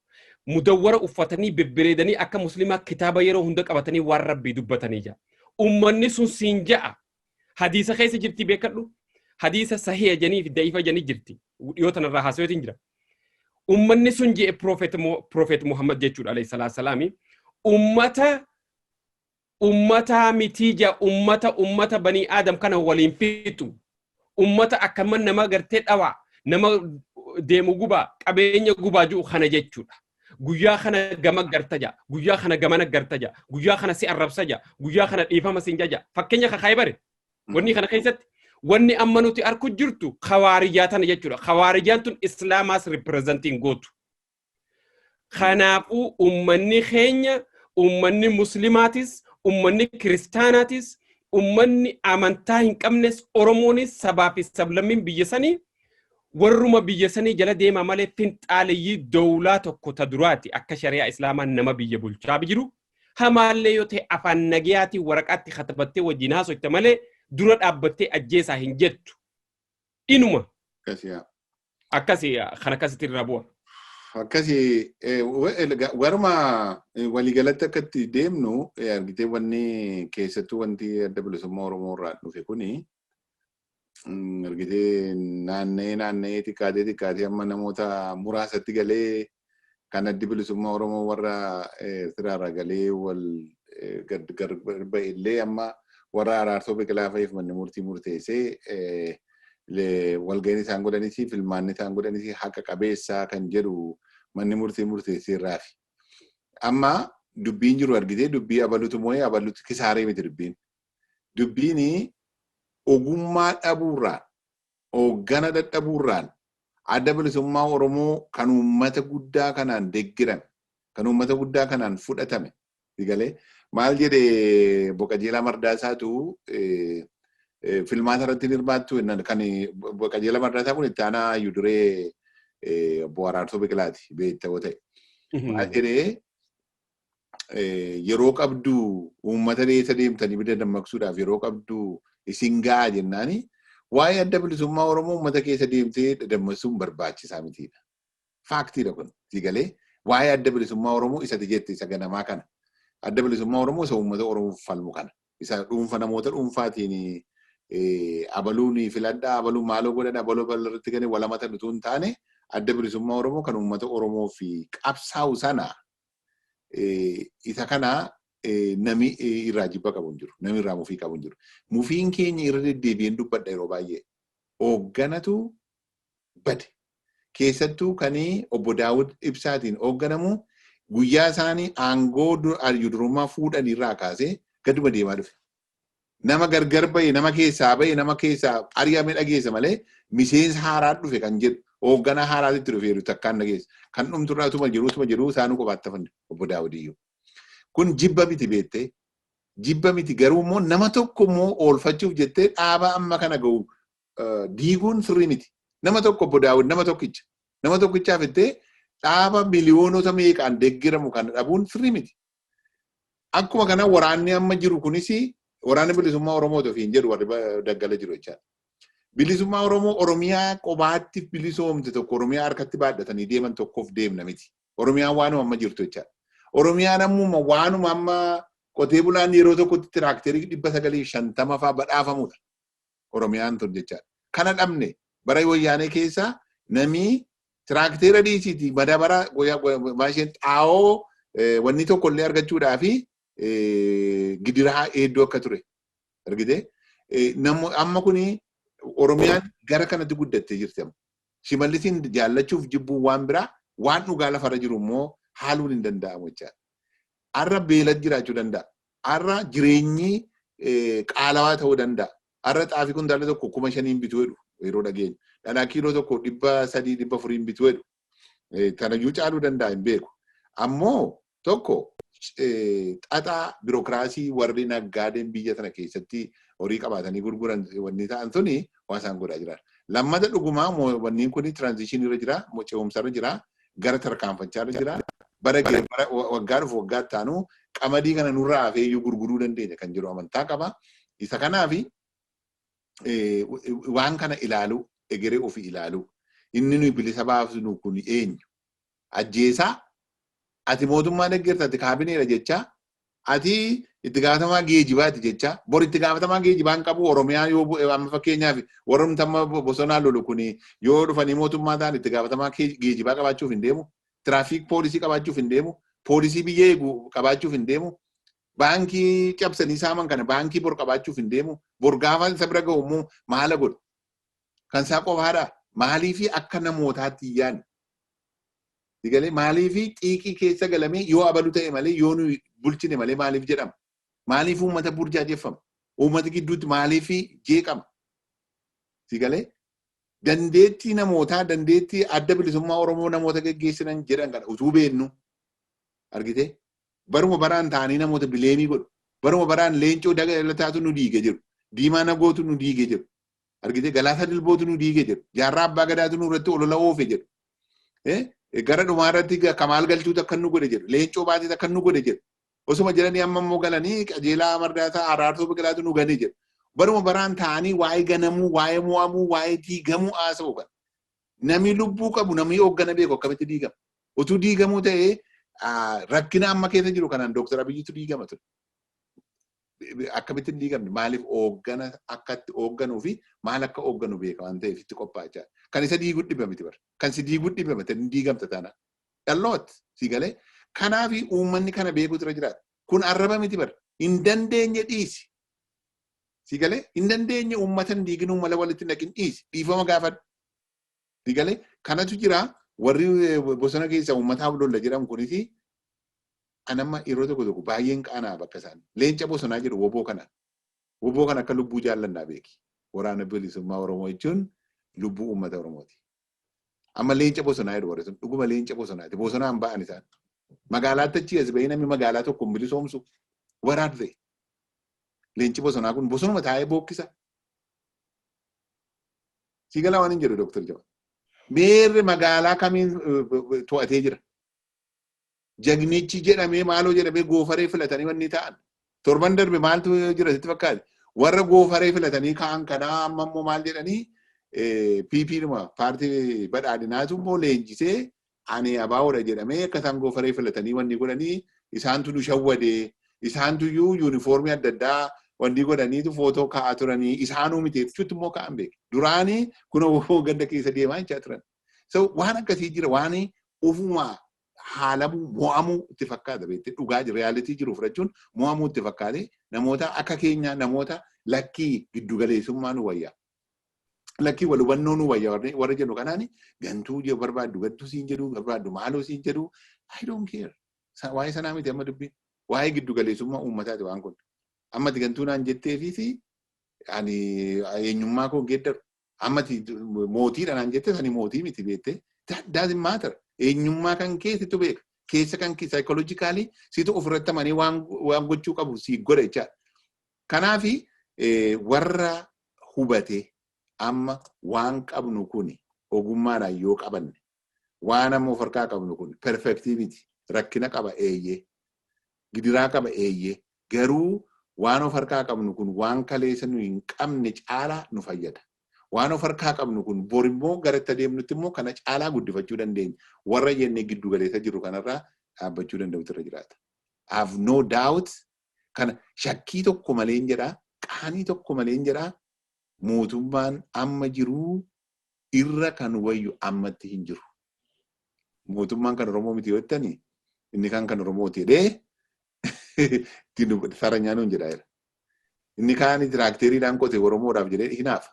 B: Mudawwara uffatanii bebbereedanii akka muslimaa kitaaba yeroo hunda qabatanii waan rabbii dubbatanii ja'a. Ummanni sun siin ja'a. hadiisa keessa jirti beekadhu hadiisa sahiya janii fi da'ifa janii jirti dhiyoo tanarraa haasaweetiin jira ummanni sun je'e profeet muhammad jechuudha alayhi salaatu salaami ummata ummataa mitii ja ummata ummata banii aadam kana waliin fixu ummata akkama nama gartee dhawaa nama deemu gubaa qabeenya gubaa jiru kana jechuudha Guyyaa kana gama garta ja'a. Guyyaa kana gamana garta ja'a. Guyyaa kana si arrabsa ja'a. Guyyaa kana dhiifama siin jaja. Fakkeenya kakaa'ee bare. Wanni kana keessatti wanni amma nuti arku jirtu kawaarijaa tana jechuudha. Kawaarijaan tun islaamaas ripireezantiin gootu. Kanaafuu ummanni keenya ummanni muslimaatis ummanni kiristaanaatis ummanni amantaa hin qabnes oromoonis sabaa fi sablammiin biyya sanii Warruma biyya sanii jala deemaa malee finxaaleyyii dowlaa tokko ta duraati akka shari'aa islaamaan nama biyya bulchaab jiru hamaallee yoo ta'e afaan nagayaatiin waraqaatti katabattee wajjiin haasoyta malee dura dhaabbattee ajjeesaa hin jettu inuma Akkasiyaa. akkasi kan akkasitti irraa bu'a. Akkasi
A: eh, wa- el- ga- warma eh, waliigalatti akka itti deemnu eh, argitee wanni keessattuu wanti adda bilisummaa Oromoo irraa dhufe kuni mm, argitee naanna'ee naanna'ee xiqqaatee xiqqaatee amma namoota muraasatti galee kan addi bilisummaa Oromoo warra eh, Eertiraarraa galee wal eh, gad gar ba'e illee amma warra araarsoo biqilaa fa'iif manni murtii murteessee eh, le- walga'iin isaan godhanis filmaanni isaan godhanis haqa qabeessaa kan jedhu manni murtii murteessee irraafi. Amma dubbiin jiru argitee dubbii abalutu moo'ee abalutu kisaaree miti dubbiin. dubbiini ogummaa dhabuurraa hooggana dadhabuurraan adda bilisummaa Oromoo kan uummata guddaa kanaan deggerame kan uummata guddaa kanaan fudhatame sigalee maal jedhe Boqajeelaa Mardaasaatu filmaata irratti hirmaattu kan Boqajeelaa Mardaasaa kun itti aanaa hayyuu duree obbo Araarsoo Biqilaati beektaa yoo ta'e. Maal jedhee yeroo qabdu uummata dheessa deemtanii bida dammaqsuudhaaf yeroo qabdu isin ga'a jennaani waa'ee adda bilisummaa Oromoo uummata keessa deemtee dadammassuun barbaachisaa mitiidha. Faaktiidha kun siigalee waa'ee adda bilisummaa Oromoo isati jette isa ganamaa kana. Adda bilisummaa Oromoo isa uummata Oromoo falmu kana. Isa dhuunfa namoota dhuunfaatiin abaluun filadhaa abaluu maaloo godhadha abaluu bal'arratti galee walamata dhutuu hin taane adda bilisummaa Oromoo kan uummata Oromoo fi qabsaa'u sana Isa kana nami irraa jibba qabu hin jiru. Nami irraa mufii qabu hin jiru. Mufiin keenya irra deddeebi'een dubbadha yeroo baay'ee. Hoogganatu bade. Keessattuu kan obbo Daawud Ibsaatiin hoogganamu guyyaa isaanii aangoo arju durummaa fuudhan irraa kaasee gaduma deemaa dhufe. nama gargar ba'e nama keessaa ba'e nama keessaa ari'ame dhageessa malee miseensa haaraa dhufe kan jedhu hoogganaa haaraatti itti dhufeeru takkaan dhageessa kan dhumtu irraa utuma jiru utuma jiru isaanuu kophaatti hafan obbo Daawudiyyuu. Kun jibba miti beettee jibba miti garuu immoo nama tokko immoo oolfachuuf jettee dhaaba amma kana ga'u diiguun sirrii miti. Nama tokko obbo Daawud nama tokkicha nama tokkichaaf jettee dhaaba miliyoonota meeqaan deeggaramu kana dhabuun sirrii miti. Akkuma kana waraanni amma jiru kunis waraanni bilisummaa Oromoo ofiin jedhu warri daggala jiru jechaadha. Bilisummaa Oromoo Oromiyaa qobaatti bilisoomte tokko Oromiyaa harkatti baadhatanii deeman tokkoof deemna miti. Oromiyaan waanuma amma jirtu jechaadha. Oromiyaan ammuma waanuma amma qotee bulaan yeroo tokkotti tiraakterii dhibba sagalii fi shantama fa'aa badhaafamudha. Oromiyaan tun jechaadha. Kana dhabne bara wayyaanee keessa namii tiraakteera dhiisiiti madabara maasheen xaa'oo wanni tokko illee argachuudhaa fi gidiraa hedduu akka ture argite amma kun oromiyaan gara kanatti guddattee jirti amma shimallisiin jaallachuuf jibbuun waan biraa waan dhugaa lafarra jiru immoo haaluun hin danda'amu jechaadha. Har'a beelad jiraachuu danda'a. Har'a jireenyi qaalawaa ta'uu danda'a. Har'a xaafii kuntaala tokko kuma shaniin bituu jedhu yeroo dhageenyu. Dhadhaa kiiloo tokko dhibba sadii dhibba afuriin bituu jedhu. Tanayyuu caaluu danda'a hin beeku. Ammoo tokko xaxaa birookiraasii warri naggaadeen biyya tana keessatti horii qabaatanii gurguran wanni ta'an suni waa isaan godhaa jira. Lammata dhugumaa wanniin kun tiraanzishinii irra jira, ce'umsa irra jira, gara tarkaanfachaa jira. Bara bara waggaa dhufu waggaa itti aanu qamadii kana nurraa hafee iyyuu gurguruu dandeenya kan jedhu amantaa qaba. Isa kanaaf waan kana ilaaluu egeree ofii ilaaluu inni nuyi bilisa baasnu kun eenyu ajjeesaa ati mootummaa deggerta ati kaabineedha jechaa Ati itti gaafatamaa geejibaati jecha bor itti gaafatamaa geejibaa hin qabu Oromiyaa yoo bu'e amma fakkeenyaaf warrumti amma bosonaa lolu kun yoo dhufanii mootummaa ta'an itti gaafatamaa geejibaa qabaachuuf hin deemu tiraafiik poolisii qabaachuuf hin deemu poolisii biyya eegu qabaachuuf hin deemu baankii cabsanii saaman kana baankii bor qabaachuuf hin deemu bor gaafa isa bira ga'u immoo maala godhu kan isaa qofaadha maaliifi akka namootaatti hin yaadne Sigalee maaliifi xiiqii keessa galamee yoo abalu ta'e malee yoo nu bulchine malee maaliif jedhama? Maaliif uummata burjaajeffama? Uummata gidduutti maaliif jeeqama? Sigalee dandeettii namootaa dandeettii adda bilisummaa Oromoo namoota geggeessinan jedhan kana utuu beennu argitee baruma baraan ta'anii namoota bileemii godhu. Baruma baraan leencoo daga lataatu nu diige jiru. Diimaa nagootu nu diige jiru. Argitee Galaasaa Dilbootu nu diige jedhu. Jaarraa Abbaa Gadaatu nu irratti olola oofe jedhu. Gara dhumaa irratti Kamaal Galchuutu akka nu godhe jedhu. Leencoo Baatiitu akka nu godhe jedhu. Osuma jedhanii amma immoo galanii qajeelaa Mardaasaa Araarsoo Biqilaatu nu gane jedhu. Baruma baraan taa'anii waa'ee ganamuu, waa'ee mo'amuu, waa'ee diigamuu haasa'u kan. Namni lubbuu qabu namni hooggana beeku akkamitti diigama. Utuu diigamuu ta'ee rakkina amma keessa jiru kanaan Dooktar Abiyyiitu diigama ture. akkamitti hin diigamne maaliif ooggana akka itti oogganuu fi maal akka oogganu beeka waan ta'eef itti qophaa'achaa kan isa diiguu dhiba miti bara kan si diiguu dhiba miti hin diigamta taana dhalloot si galee kanaaf uummanni kana beekuutu irra jiraata kun arraba miti bara hin dandeenye dhiisi si galee hin dandeenye uummata hin diigin uummata walitti naqin dhiisi dhiifama gaafadhu si galee kanatu jira warri bosona keessa uummataa lolla jedhamu kunis An amma yeroo tokko tokko baay'een qaana'a bakka isaan leenca bosonaa jedhu woboo kana. Woboo kana akka lubbuu jaallannaa beeki. Waraana Bilisummaa Oromoo jechuun lubbuu uummata Oromooti. Amma leenca bosonaa jedhu warri sun dhuguma leenca bosonaati. Bosonaan ba'an isaan. Magaalaatti achii as ba'ee namni magaalaa tokko hin bilisoomsu. What are they? Leenci bosonaa kun bosonuma taa'ee bookkisa. Sii galaa waan hin jedhu Dooktar Jawar. Meerre magaalaa kamiin to'atee jira? jagnichi jedhamee maaloo jedhamee goofaree filatanii wanni ta'an torban darbe maaltu jira sitti fakkaate warra goofaree filatanii ka'an kanaa amma immoo maal jedhanii PP dhuma paartii badhaadhinaatu immoo leenjisee ani abaawoodha jedhamee akka isaan goofaree filatanii wanni godhanii isaantu nu shawwadee isaantu iyyuu yuunifoormii adda addaa wanni godhaniitu footoo ka'aa turanii isaanuu miti jechuutti immoo ka'an beeku duraanii kun ganda keessa deemaa jechaa turan. So waan akkasii jira waan ofuma haalamuu mo'amuu itti fakkaata beekte dhugaa reyaalitii jiru fudhachuun mo'amuu itti fakkaate namoota akka keenyaa namoota lakkii giddugaleessummaa nu wayya. Lakkii wal hubannoo nu wayya warri- warra jedhu kanaan gantuu je- barbaaddu gantuu siin jedhu barbaaddu maaloo siin jedhu I don't care. Sa- Waa'ee sanaa miti amma dubbiin. Waa'ee giddugaleessummaa uummataati waan kun. Amma ati gantuu naan jetteefiis ani eenyummaa koo hin geeddaru. Amma ati mootiidha naan jette sani mootii miti beettee. That doesn't matter. Eenyummaa kan kee situ beeka. Keessa kan kee psychologically situ ofirratti amanee waan waan gochuu qabu si godha jechaadha. Kanaafi eh, warra hubate amma waan qabnu kuni ogummaadhaan yoo qabanne Waan amma of harkaa qabnu kun perfektii miti. Rakkina qaba eeyyee. Gidiraa qaba eeyyee. Garuu waan of harkaa qabnu kun waan kaleessa nu hin qabne caalaa nu fayyada. Waan of harkaa qabnu kun bor immoo gara itti adeemnutti immoo kana caalaa guddifachuu dandeenya. Warra jennee giddu galeessa jirru kanarraa dhaabbachuu danda'utu irra jiraata. I have no doubt kana shakkii tokko maleen jedha qaanii tokko maleen jedha mootummaan amma jiruu irra kan wayyu ammatti hin jiru. Mootummaan kan Oromoo miti yoo jettani inni kaan kan Oromooti jedhee ittiin dubbate saranyaa nuun jedhaa jira. Inni kaan tiraakteriidhaan qote Oromoodhaaf jedhee hinaafa.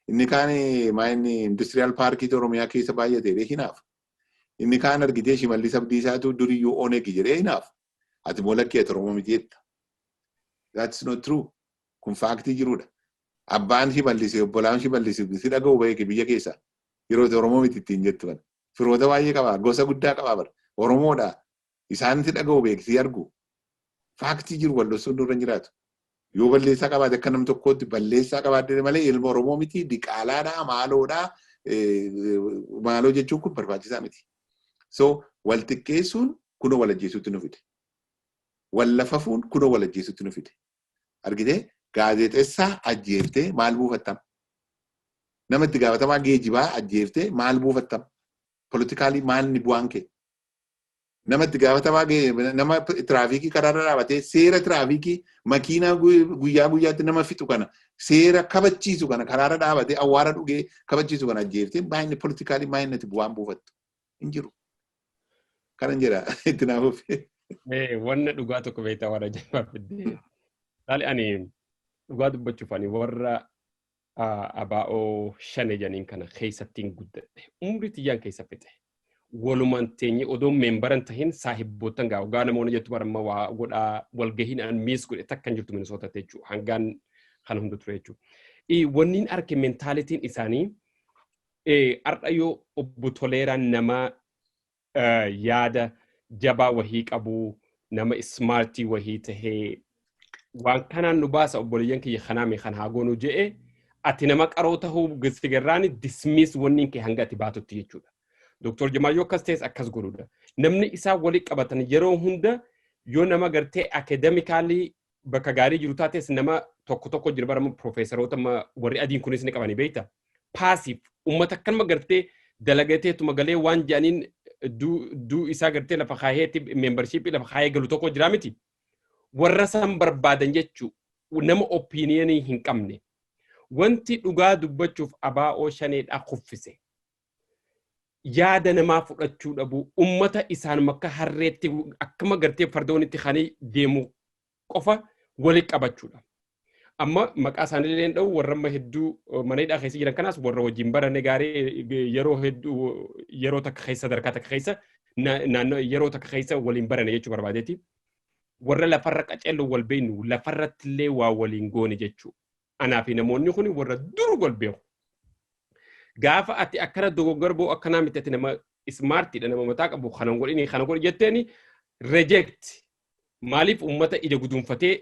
A: Inni kaan maayinni industiriyaal paarkiitu Oromiyaa keessa baay'ate jedhee hinaafa. Inni kaan argitee shimallis abdiisaatu duriyyuu onegi jedhee hinaafa. Ati moo lakkii ati Oromoo miti jetta. That's not true. Kun faaktii jiruudha. Abbaan Shimallis, obbolaan Shimallis si dhaga'u beeki biyya keessaa. Yeroo itti Oromoo miti ittiin jettu kana. Firoota baay'ee qaba. Gosa guddaa qaba bar. Oromoodha. Isaan si dhaga'u beeki si argu. Faaktii jiru wal dhossuun nurra hin jiraatu. Yoo balleessaa qabaate akka nam tokkootti balleessaa qabaadde malee ilma Oromoo miti diqaalaadha maaloodha maaloo jechuun kun barbaachisaa miti. So wal xiqqeessuun kunoo wal ajjeesuutti nu fide. Wal lafafuun kunoo wal ajjeesuutti nu fide. argitee gaazeexessaa ajjeeftee maal buufattam nama itti gaafatamaa geejibaa ajjeeftee maal buufattam politikaalii maalni bu'aan kee nama itti gaafatamaa gee- nama tiraafiikii karaarra dhaabatee seera tiraafiikii makiinaa gu- guyyaa guyyaatti nama fixu kana seera kabachiisu kana karaarra dhaabatee awwaara dhugee kabachiisu kana ajjeeftee maayinni politikaalii maayinnati bu'aan buufattu. hin jiru. Kanan jedha itti naa fufi. Wanna
B: dhugaa tokko beektaa warra jabaa fiddee. Saali ani dhugaa dubbachuuf ani warra abaa'oo shane janiin kana keessattiin guddadhe. Umrii tiyyaan keessa fixe. Walumaan teenye odoo meembaran tahin saahibboottan gaa ogaa namoonni jettu baramma waa godhaa walgahiin an miis godhe takkan jirtu minisoota jechuudha. Hangaan kana hunda ture jechuudha. Wanniin arke mentaalitiin isaanii Har'a yoo Obbo Toleeraan nama yaada jabaa wahii qabu, nama ismaartii wahii tahee waan kanaan nu baasa obboleeyyan kiyya kanaa mee kan haa goonu je'e ati nama qaroo tahuu sigarraani dismiis wanniin kee hanga ati baatutti jechuudha. Dooktor Jamaal yoo akkas ta'es akkas godhuudha. Namni isaa wali qabatan yeroo hunda yoo nama gartee akademikaalii bakka gaarii jiru taates nama tokko tokko jira bara piroofeesaroota amma warri adiin kunis ni qabanii beekta. Paasiif uummata akkanuma gartee dalagateetuma galee waan jedhaniin duu isaa gartee lafa kaayeetti meembarshiippii lafa kaayee galu tokko jira miti. Warra san barbaadan jechuu nama opiiniyanii hin qabne. Wanti dhugaa dubbachuuf abaa'oo shaneedhaa kuffise. yaada namaa fudhachuu dhabuu ummata isaanuma akka harreetti akkuma gartee fardoonitti kan deemu qofa walitti qabachuudha. Amma maqaa isaanii illee hin dha'u warra amma hedduu mana hidhaa keessa jiran kanaas warra wajjin barane gaarii yeroo hedduu yeroo takka keessa sadarkaa takka keessa naannoo yeroo takka keessa waliin barane jechuu barbaadeeti. Warra lafarra qaceellu wal beeknu lafarratti illee waa waliin goone jechuu. Anaa fi namoonni kun warra dur wal beeku. Gaafa ati akkana dogoggora ba'u akkanaa miti ati nama ismaartiidha nama mataa qabu kana godhini kana godhi jetteeni reject maaliif uummata ija guduunfatee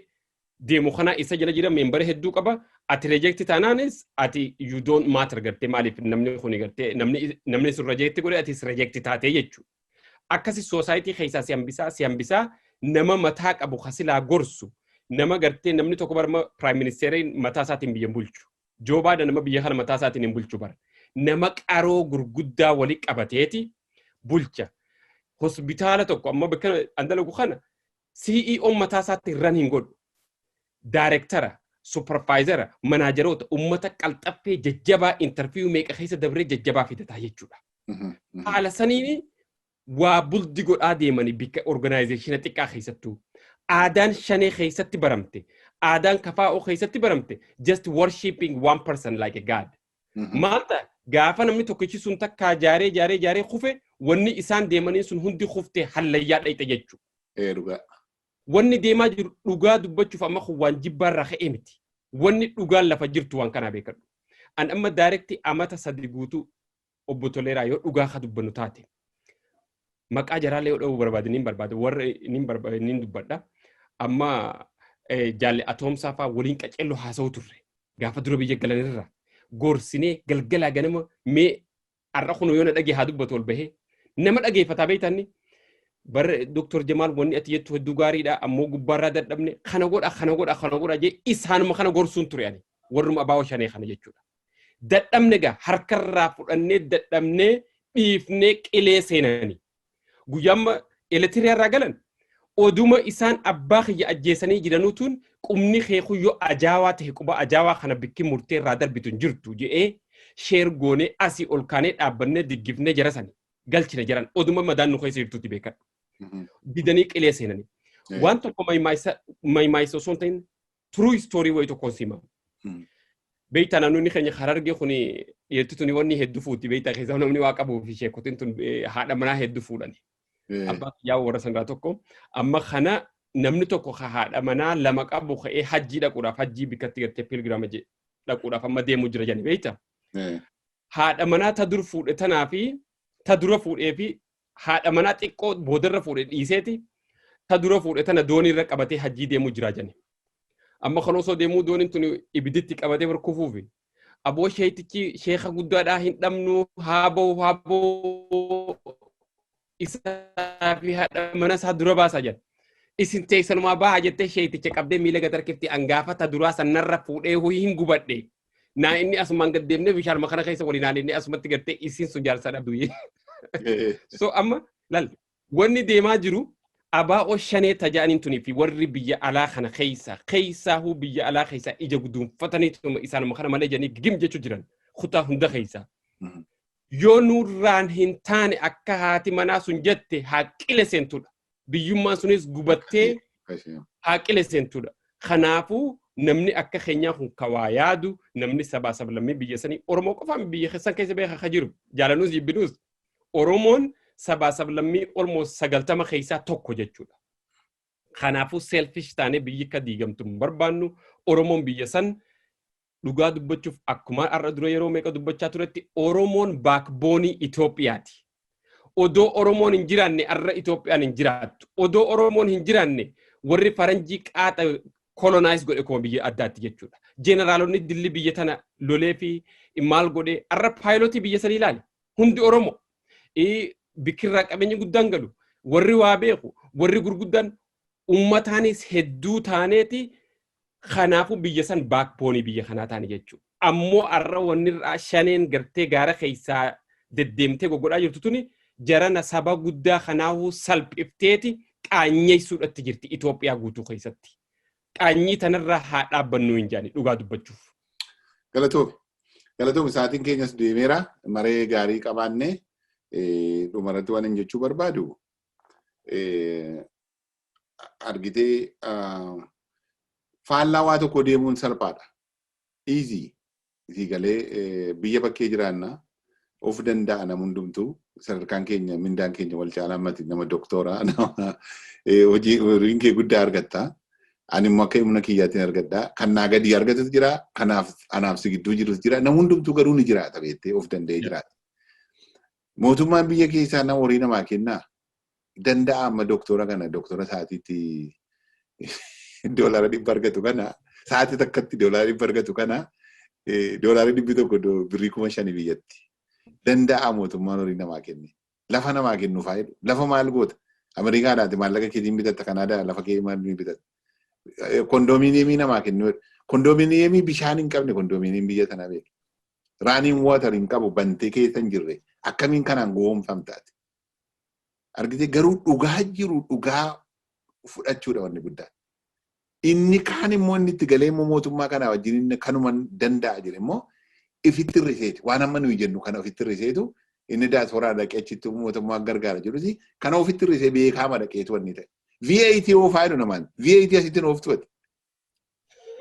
B: deemu kana isa jala jira meembara hedduu qaba ati reject taanaanis ati you don't matter gartee maaliif namni kun gartee namni namni sun reject godhe atis reject taatee jechuudha. akkasi soosaayitii keessaa si hambisaa si hambisaa nama mataa qabu kasilaa gorsu nama gartee namni tokko barma piraayim ministeeriin mataa isaatiin biyya hin bulchu joo baayiden nama biyya kana mataa isaatiin hin bulchu bara nama qaroo gurguddaa wali qabateeti bulcha hospitaala tokko amma bakka an dalagu kana CEOn mataa isaatti ran hin godhu. Daarektara, supparvaayizara, manaajaroota, uummata qalxaffee jajjabaa intarviiyuu meeqa keessa dabree jajjabaa fidataa jechuudha. Haala saniin waa buldi godhaa deemanii bikka organaayizeeshina xiqqaa keessattuu. Aadaan shanee keessatti baramte, aadaan kafaa'oo keessatti baramte, just worshipping one person like a god. Maal ta'a? Gaafa namni tokkichi sun takkaa jaaree jaaree jaaree kufe wanni isaan deemanii sun hundi kufte hallayyaa dhayxe jechuudha. Ee dhugaa.
A: Wanni
B: deemaa jiru dhugaa dubbachuuf amma kun waan jibbaarraa ka'ee miti. Wanni dhugaan lafa jirtu waan kanaa beekadhu. An amma daarekti amata sadi guutuu obbo Toleeraa yoo dhugaa ka dubbannu taate. maqaa jaraallee yoo dha'uu barbaade niin barbaada warra niin barba- niin dubbadha amma eh, jaalle atoomsaa faa waliin qaceelloo haasa'u turre gaafa dura biyya galanirra gorsinee galgalaa ganama mee har'a kun yoo na dhagee haa dubbatu ol bahee nama dhageeffataa beektanni barre doktor jamaal wanni ati jettu hedduu gaariidha ammoo gubbaarraa dadhabne kana godha kana godha kana godha jee isaanuma kana gorsuun ture ani warruma abaawoo shanee kana jechuudha Dadhabne gaa harkarraa fudhannee dadhabnee dhiifnee qilee seenani. Guyyaamma Eritrea irraa galan oduma isaan abbaa kiyya ajjeesanii jiranuutuun qubni kee kun yoo ajaawaa ta'e quba ajaawaa kana bikki murtee irraa darbitu hin jirtu je'ee sheer goonee asii ol kaanee dhaabbannee diggifnee jara sani galchine jaran oduma madaan nu keessa jirtutti beekadhu. Didanii qilee seenani. Waan tokko maymaayisa osoo hin ta'in True story wayi tokkoon sima. Mm. Beektaa namoonni keenya harargee kun dhiirti tuni wanni heddu fuuti beektaa keessaa namni waa qabuu fi sheekotiin tun eh, haadha manaa heddu fuudhani. Eh, Abbaa kiyyaa warra sangaa tokko amma kana namni tokko ka haadha manaa lama qabu ka'ee hajjii dhaquudhaaf hajjii bikkatti gartee pilgiraama je- dhaquudhaaf amma deemuu jira jedhani beektaa. eh, Haadha manaa ta dur fuudhe tanaa fi ta dura fuudhee fi haadha manaa xiqqoo boodarra fuudhe dhiiseeti ta dura fuudhe tana doonii irra qabatee hajjii deemuu jiraa jani. Amma kan osoo deemuu dooniin tuni ibiditti qabatee bar kufuufi. Aboo sheetichi sheeka guddaadhaa hin dhabnu haa ba'u haa ba'u isaa fi haadha mana isaa dura baasaa jani. Isin teessanumaa bahaa jettee sheeticha qabdee miila gad harkifti angaafata duraa sanarra fuudhee ho'i hin gubadhe Naa inni asumaan gad deemnee bishaanuma kana keessa waliin haalinnee asumatti gattee isiin sun jaarsaadha du'ee. So amma lal wanni deemaa jiru abaa'oo shanee tajaaniin tunii fi warri biyya alaa kana keessa keessaa huu biyya alaa keessa ija guduunfatanii tuma isaanuma kana malee jedhanii gim jechuu jiran kutaa hunda keessa. Mhm. Yoo nurraan hin taane akka haati manaa sun jette haaqqile seentudha. biyyummaan sunis gubattee haaqile seentudha. Kanaafuu namni akka keenyaa kun kawaa yaadu namni sabaa sablammii biyya sanii Oromoo qofaan biyya keessan keessa beekaa ka jiru jaalanuus jibbinuus Oromoon sabaa sablammii Oromoo sagaltama keessaa tokko jechuudha. Kanaafuu selfish taanee biyyi akka diigamtu hin barbaannu Oromoon biyya san Dhugaa dubbachuuf akkumaan har'a dura yeroo meeqa dubbachaa turetti Oromoon baakboonii Itoophiyaati. Odoo Oromoon hin jiraanne har'a Itoophiyaan hin jiraattu. Odoo Oromoon hin jiraanne warri faranjii qaaxa kolonaayiz godhe kuma biyya addaatti jechuudha. Jeenaraalonni dilli biyya tana lolee fi maal godhe har'a paayilotii biyya sanii ilaali. Hundi Oromoo. Bikkirraa qabeenyi guddaan galu. Warri waa beeku. Warri gurguddaan ummataanis hedduu taaneeti Kanaafuu biyya san baakboonii biyya kanaa taane jechuudha. Ammoo har'a wanni irraa shaneen gartee gaara keessaa deddeemtee goggodhaa jirtu tuni jarana saba guddaa kanaahuu salphifteeti qaanyeessuudhatti jirti Itoophiyaa guutuu keessatti. Qaanyii tanarraa haa dhaabbannuu hin jaani dhugaa dubbachuuf. Galatoomi.
A: Galatoomi sa'aatiin keenyas deemeera. Maree gaarii qabaanne dhumarratti waan hin jechuu barbaadu. argitee faallaa waa tokko deemuun salphaadha. Easy. Isii galee biyya bakkee jiraanna of danda'a nam hundumtuu sadarkaan keenya mindaan keenya wal caalaa mati nama doktoora nama hojii horiin kee guddaa argatta. Ani immoo akka humna kiyyaatiin argadha. Kan naa gadii argatus jira. Kanaaf anaaf si gidduu jirus jira. Nam hundumtuu garuu ni jiraata beettee of danda'ee jiraata. Mootummaan biyya keessaa nama horii namaa kennaa? Danda'a amma doktora kana doktora sa'aatiitti doolaara dhibba argatu kana sa'aatii takkatti doolaara dhibba argatu kana doolaara dhibbi tokko birrii kuma shanii biyyatti. Danda'a mootummaan horii namaa kenne. Lafa namaa kennu faayidu. Lafa maal goota? Ameerikaa laati maallaqa keetiin bitatta Kanaadaa lafa kee maal ni bitatta? Kondoominiyeemii namaa kennu. Kondoominiyeemii bishaan hin qabne kondoominiyeemii biyya sanaa beeku. Running water hin qabu bantee keessa hin jirre akkamiin kanaan gowwoomfamtaati. Argitee garuu dhugaa jiru dhugaa fudhachuudha wanni guddaan. Inni kaan immoo inni itti galee immoo mootummaa kanaa wajjin inni kanuma danda'a jedhe immoo ifitti hir'iseeti. Waan amma nuyi jennu kana ofitti hir'iseetu inni daasporaa dhaqee achitti mootummaa gargaara jedhusi kana ofitti hir'isee beekaama dhaqeetu wanni ta'e. VAT yoo faayidu namaan VAT asitti hin ooftuwati.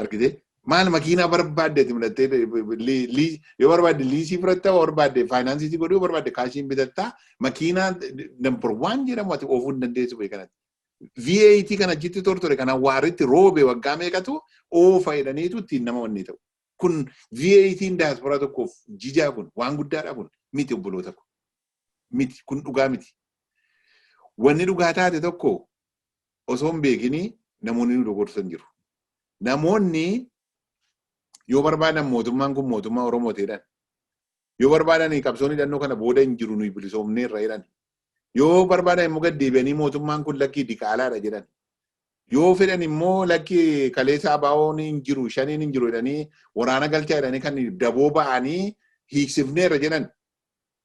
A: Argitee? Maal makiinaa barbaadde itti midhattee lii- lii- yoo barbaadde liisii fudhatta yoo barbaadde faayinaansii si godhu yoo barbaadde kaashiin bitatta makiinaa nambar waan jedhamu ati oofuu hin dandeessu bee kanatti. VAT kan achitti tortore kan awwaaritti roobe waggaa meeqatu oofa jedhaniitu ittiin nama wanni ta'u. Kun VAT'n daasporaa tokkoof jijaa kun waan guddaadha kun miti obboloota kun miti kun dhugaa miti. Wanni dhugaa taate tokko osoo hin beekini namoonni nu dogorsan jiru. Namoonni yoo barbaadan mootummaan kun mootummaa Oromooti jedhan. Yoo barbaadan qabsoon hidhannoo kana booda hin jiru nuyi bilisoomneerra jedhan. Yoo barbaadan immoo gad deebi'anii mootummaan kun lakkii diqaalaadha jedhan. Yoo fedhan immoo lakki kaleessa abaawoon hin jiru shaniin hin jiru jedhanii waraana galchaa jedhanii kan daboo ba'anii hiiksifneerra jedhan.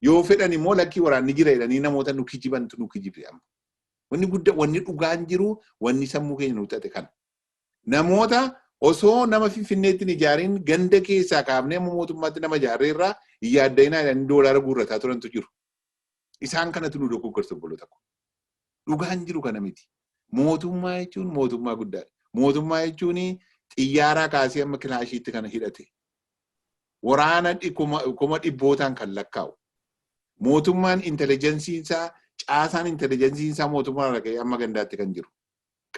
A: Yoo fedhan immoo lakkii waraanni jira jedhanii namoota nu kijibantu nu kijibe amma. Wanni gudda wanni dhugaan jiru wanni sammuu keenya nu xaxe kana. Namoota osoo nama finfinneetti hin ijaariin ganda keessaa kaafnee amma mootummaatti nama ijaarree irraa hin yaadda'inaa jedhanii doolaara guurrataa turantu jiru. Isaan kanatu nu dogoggorsa obboloota koo. Dhugaan jiru kana miti. Mootummaa jechuun mootummaa guddaadha. Mootummaa jechuun xiyyaaraa kaasee amma kilaashiitti kana hidhate. waraana kuma dhibbootaan kan lakkaa'u mootummaan intelijensiin isaa caasaan intelijensiin isaa mootummaa irraa ka'ee amma gandaatti kan jiru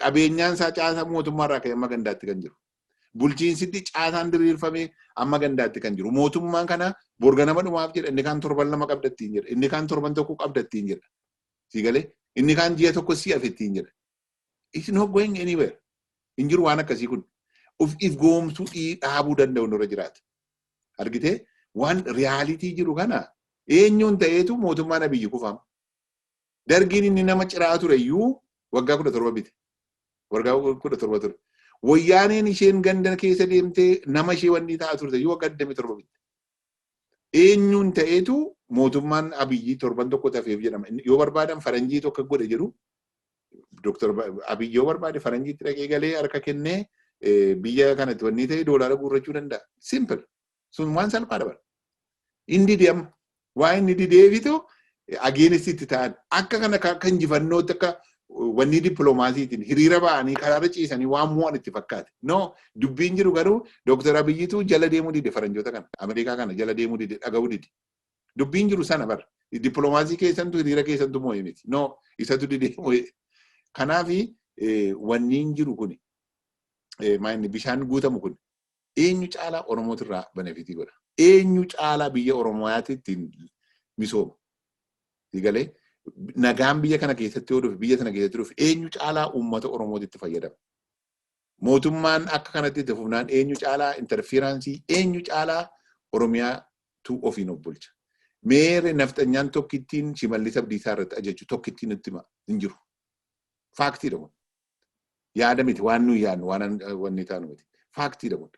A: qabeenyaan isaa caasaa mootummaa irraa ka'ee amma gandaatti kan jiru bulchiinsitti caasaan diriirfamee amma gandaatti kan jiru mootummaan kana borga nama dhumaaf jedha inni kaan torban lama qabdattiin jedha inni kaan torban tokko qabdattiin jedha siigalee inni kaan ji'a tokko si afittiin jedha It's not going anywhere. Hin jiru waan akkasii kun. Of if goomsuu dhii dhaabuu danda'u nurra jiraata. Argitee waan riyaalitii jiru kana eenyuun ta'eetu mootummaan abiyyi kufaam. Dargiin inni nama ciraa ture iyyuu waggaa kudha torba bite. Waggaa kudha torba ture. Wayyaaneen isheen ganda keessa deemtee nama ishee wanni ta'a turte iyyuu waggaa 27 bitte. Eenyuun ta'eetu mootummaan Abiyyi torban tokko tafeef jedhama. Yoo barbaadan faranjiitu akka godhe jedhu. Doktar Abiyyi yoo barbaade faranjiitti dhaqee galee harka kennee biyya kanatti wanni ta'e doolaara guurrachuu danda'a. Simple. Sun waan salphaadha bara. Inni dide amma. Waa inni dideefitu against itti ta'an akka kana akka akka injifannootti akka wanni dippiloomaasiitiin hiriira ba'anii karaarra ciisanii waan mo'an itti fakkaate. No dubbiin jiru garuu Dooktar Abiyyitu jala deemuu dide faranjoota kana Ameerikaa kana jala deemuu dide dhaga'uu dide. Dubbiin jiru sana bar dippiloomaasii keessantu hiriira keessantu mo'e miti. No isatu didee mo'e. Kanaaf wanniin jiru kuni maayinni bishaan guutamu kun Eenyu caalaa Oromooti irraa benefitii godha? Eenyu caalaa biyya Oromoyaati ittiin misooma? Sigalee nagaan biyya kana keessatti yoo dhufe biyya sana keessatti dhufe eenyu caalaa uummata Oromooti itti fayyadama? Mootummaan akka kanatti itti fufnaan eenyu caalaa interferaansii eenyu caalaa Oromiyaatu ofiin of bulcha? Meere nafxanyaan tokkittiin Shimallis Abdiisaa irratti ajajchu tokkittiin nutti hima hin jiru. Faaktiidha kun. Yaada miti waan nuyi yaadnu waan wanni taanu miti. Faaktiidha kun.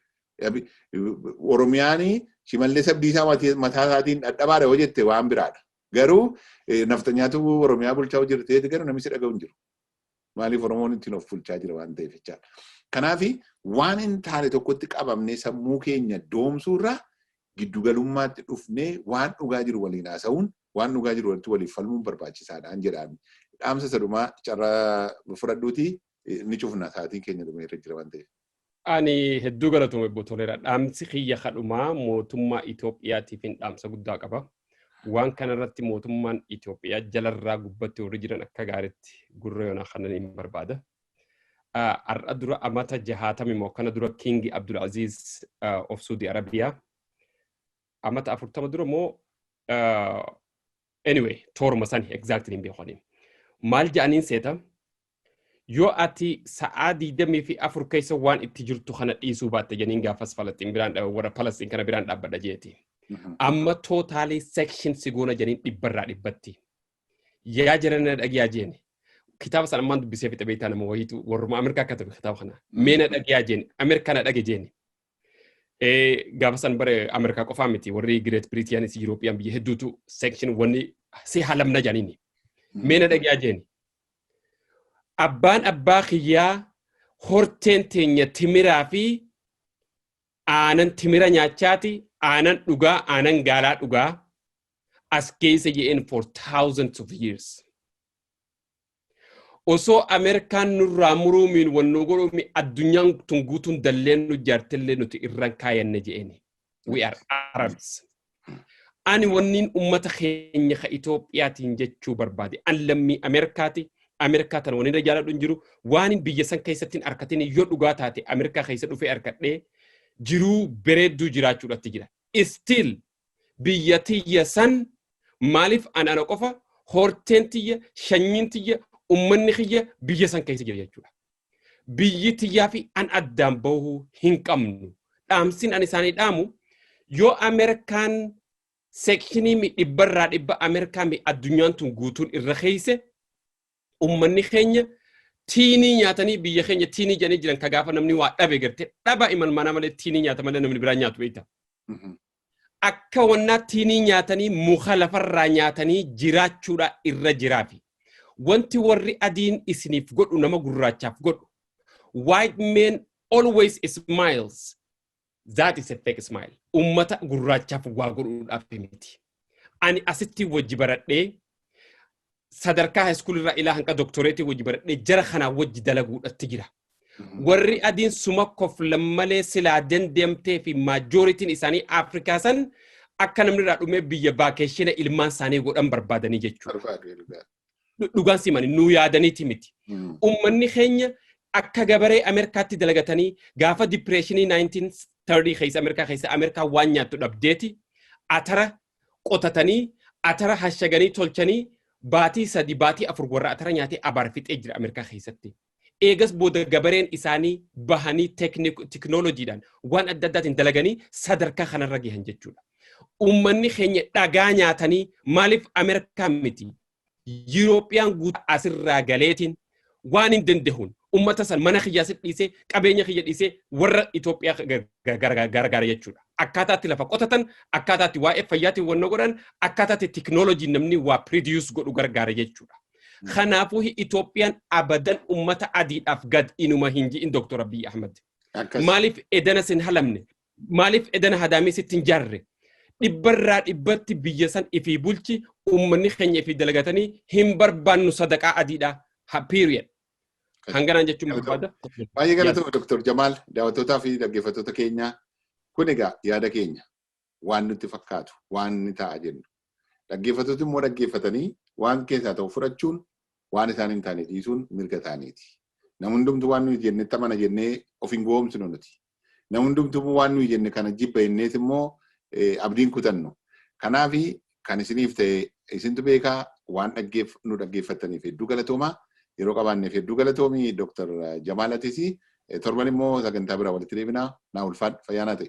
A: Oromiyaanii shimallis abdiisaa mataa isaatiin dhadhabaadha yoo jette waan biraadha. Garuu nafxanyaatu Oromiyaa bulchaa jirteeti garuu namichi dhaga'u hin jiru. Maaliif Oromoon ittiin of bulchaa jira waan ta'eef jechaadha. Kanaaf waan hin taane tokkotti qabamnee sammuu keenya doomsuurraa giddugalummaatti dhufnee waan dhugaa jiru waliin haasa'uun waan dhugaa jiru irratti waliif falmuun barbaachisaadhaan jedhaan dhaamsa isa dhumaa carraa fudhadhuuti ni cufna sa'aatiin keenya dhumee irra jira waan ta'eef. Ani
B: hedduu galatoomi obbo Toleeraa. Dhaamsi kiyya kadhumaa mootummaa Itoophiyaatiif hin dhaamsa guddaa qaba. Waan kanarratti mootummaan Itoophiyaa jalarraa gubbatti warri jiran akka gaariitti gurra yoonaa kanan hin barbaada. Har'a dura amata jahaatami moo kana dura Kiingi Abdul Aziz of Suudi Arabiyaa amata afurtama dura moo anyway tooruma san exactly hin beekoni maal ja'aniin seeta yoo ati sa'aa digdamii fi afur keessa waan itti jirtu kana dhiisuu baatte janiin gaafas falastiin biraan warra falastiin kana biraan dhaabbadha jeeti amma tootaalii section si goona janiin dhibbarraa dhibbatti yaa jirana dhagiyaa jeeni kitaaba san ammaan dubbisee fixe beektaa nama wayiitu warruma Ameerikaa akka ta'e kitaaba kana meena dhagiyaa jeeni Ameerikaa na dhage jeeni Gaafa san bara Ameerikaa qofaa miti warri Gireet Biriitiyaanis Yurooppiyaan biyya hedduutu seekshin wanni si halamna jedhaniini. Meena dhagaa jeeni. Abbaan abbaa kiyyaa horteen teenya timiraa fi aanan timira nyaachaati aanan dhugaa aanan gaalaa dhugaa as keessa je'een for thousands of years. Osoo Ameerikaan nurraa muruu miin wan nu godhuu mi addunyaan tun guutuun dalleen nu jaartillee nuti irran kaayanne je'eni. We are Arabs. Ani wanniin ummata keenya ka Itoophiyaatiin jechuu barbaade. An lammii Ameerikaati. Ameerikaa tana wanirra jaaladhu hin jiru. Waanin biyya san keessatti hin arkatin yoo dhugaa taate Ameerikaa keessa dhufee arkadhee jiruu bareedduu jiraachuudhatti jira. Still biyya tiyya san maaliif ana ana qofa horteen tiyya shanyiin tiyya ummanni kiyya biyya san keessa jira jechuudha. Biyyi tiyyaa fi an addaan bahuu hin qabnu. Dhaamsin an isaanii dhaamu yoo Ameerikaan seekshinii mi dhibbarraa dhibba Ameerikaa mi addunyaan tun guutuun irra keeyse Ummanni keenya tiinii nyaatanii biyya keenya tiinii jedhanii jiran ka gaafa namni waa dhabe garte dhaba imalmaanaa malee tiinii nyaata malee namni biraa nyaatu beekta. Akka wannaa tiinii nyaatanii muka lafarraa nyaatanii jiraachuudha irra jiraafi. Wanti warri adiin isiniif godhu nama gurraachaaf godhu. White men always smiles. That is a fake smile. Ummata gurraachaaf waa godhuudhaaf miti. Ani asitti wajji baradhee sadarkaa haayiskuulii irraa ilaa hanga doktoreetii wajji baradhee jara kanaa wajji dalaguudhatti jira. Warri adiin suma koflan malee silaa dandeemtee fi maajooritiin isaanii Afrikaa san akka namni irraa dhumee biyya vaakeeshina ilmaan isaanii godhan barbaadanii jechuudha. Barbaadu ilgaa. dhu- dhugaan simani nuu yaadaniiti miti. Mm. Ummanni keenya akka gabaree Ameerikaatti dalagatanii gaafa dipireeshinii 1930 keessa Ameerikaa keessa Ameerikaa waan nyaattu dhabdeeti atara qotatanii atara hashaganii tolchanii baatii sadi baatii afur warra atara nyaatee abaar fixee jira Ameerikaa keessatti. eegas booda gabareen isaanii bahanii teknooloojiidhaan waan adda addaatiin dalaganii sadarkaa kanarra gahan jechuudha. Uummanni keenya dhagaa nyaatanii maaliif Ameerikaa miti Yurooppiyaan guutuu asirraa galeetiin waan hin danda'uun uummata san mana kiyyaa si dhiisee qabeenya kiyya dhiisee warra Itoophiyaa gargaara jechuudha. Akkaataatti lafa qotatan, akkaataatti waa'ee fayyaatiin wanna godhan, akkaataatti teknooloojiin namni waa piriidiyuus godhu gargaara jechuudha. Kanaafuu Itoophiyaan abadan ummata adiidhaaf gad inuma hin ji'in Dooktor Abiy Ahmad. Akkas. Maaliif edana sin halamne? Maaliif edana hadaamii sitti hin jaarre? Dhibbarraa dhibbatti biyya san ifii bulchi ummanni keenya ifii dalagatanii hin barbaannu sadaqaa adiidhaa. Ha period. Hanganaan jechuun barbaada. Baay'ee galatoomi
A: Dr. Jamaal daawwattootaa fi dhaggeeffattoota keenya kun egaa yaada keenya. waan nutti fakkaatu waan ni ta'a jennu. Dhaggeeffattooti immoo dhaggeeffatanii waan keessaa ta'u fudhachuun waan isaan hin taane dhiisuun mirga isaaniiti. Nam hundumtu waan nuyi jennetti amana jennee of hin gowwoomsinu nuti. Nam hundumtu immoo waan nuyi jenne kana jibba jennees immoo abdiin kutannu. Kanaaf kan isiniif ta'e isintu beeka waan dhaggeef nu dhaggeeffattaniif hedduu galatooma. Yeroo qabaanneef hedduu galatoomi Dr. Jamaal Atis torban immoo sagantaa biraa walitti deebina. Naa ulfaadhu fayyaa naa ta'e.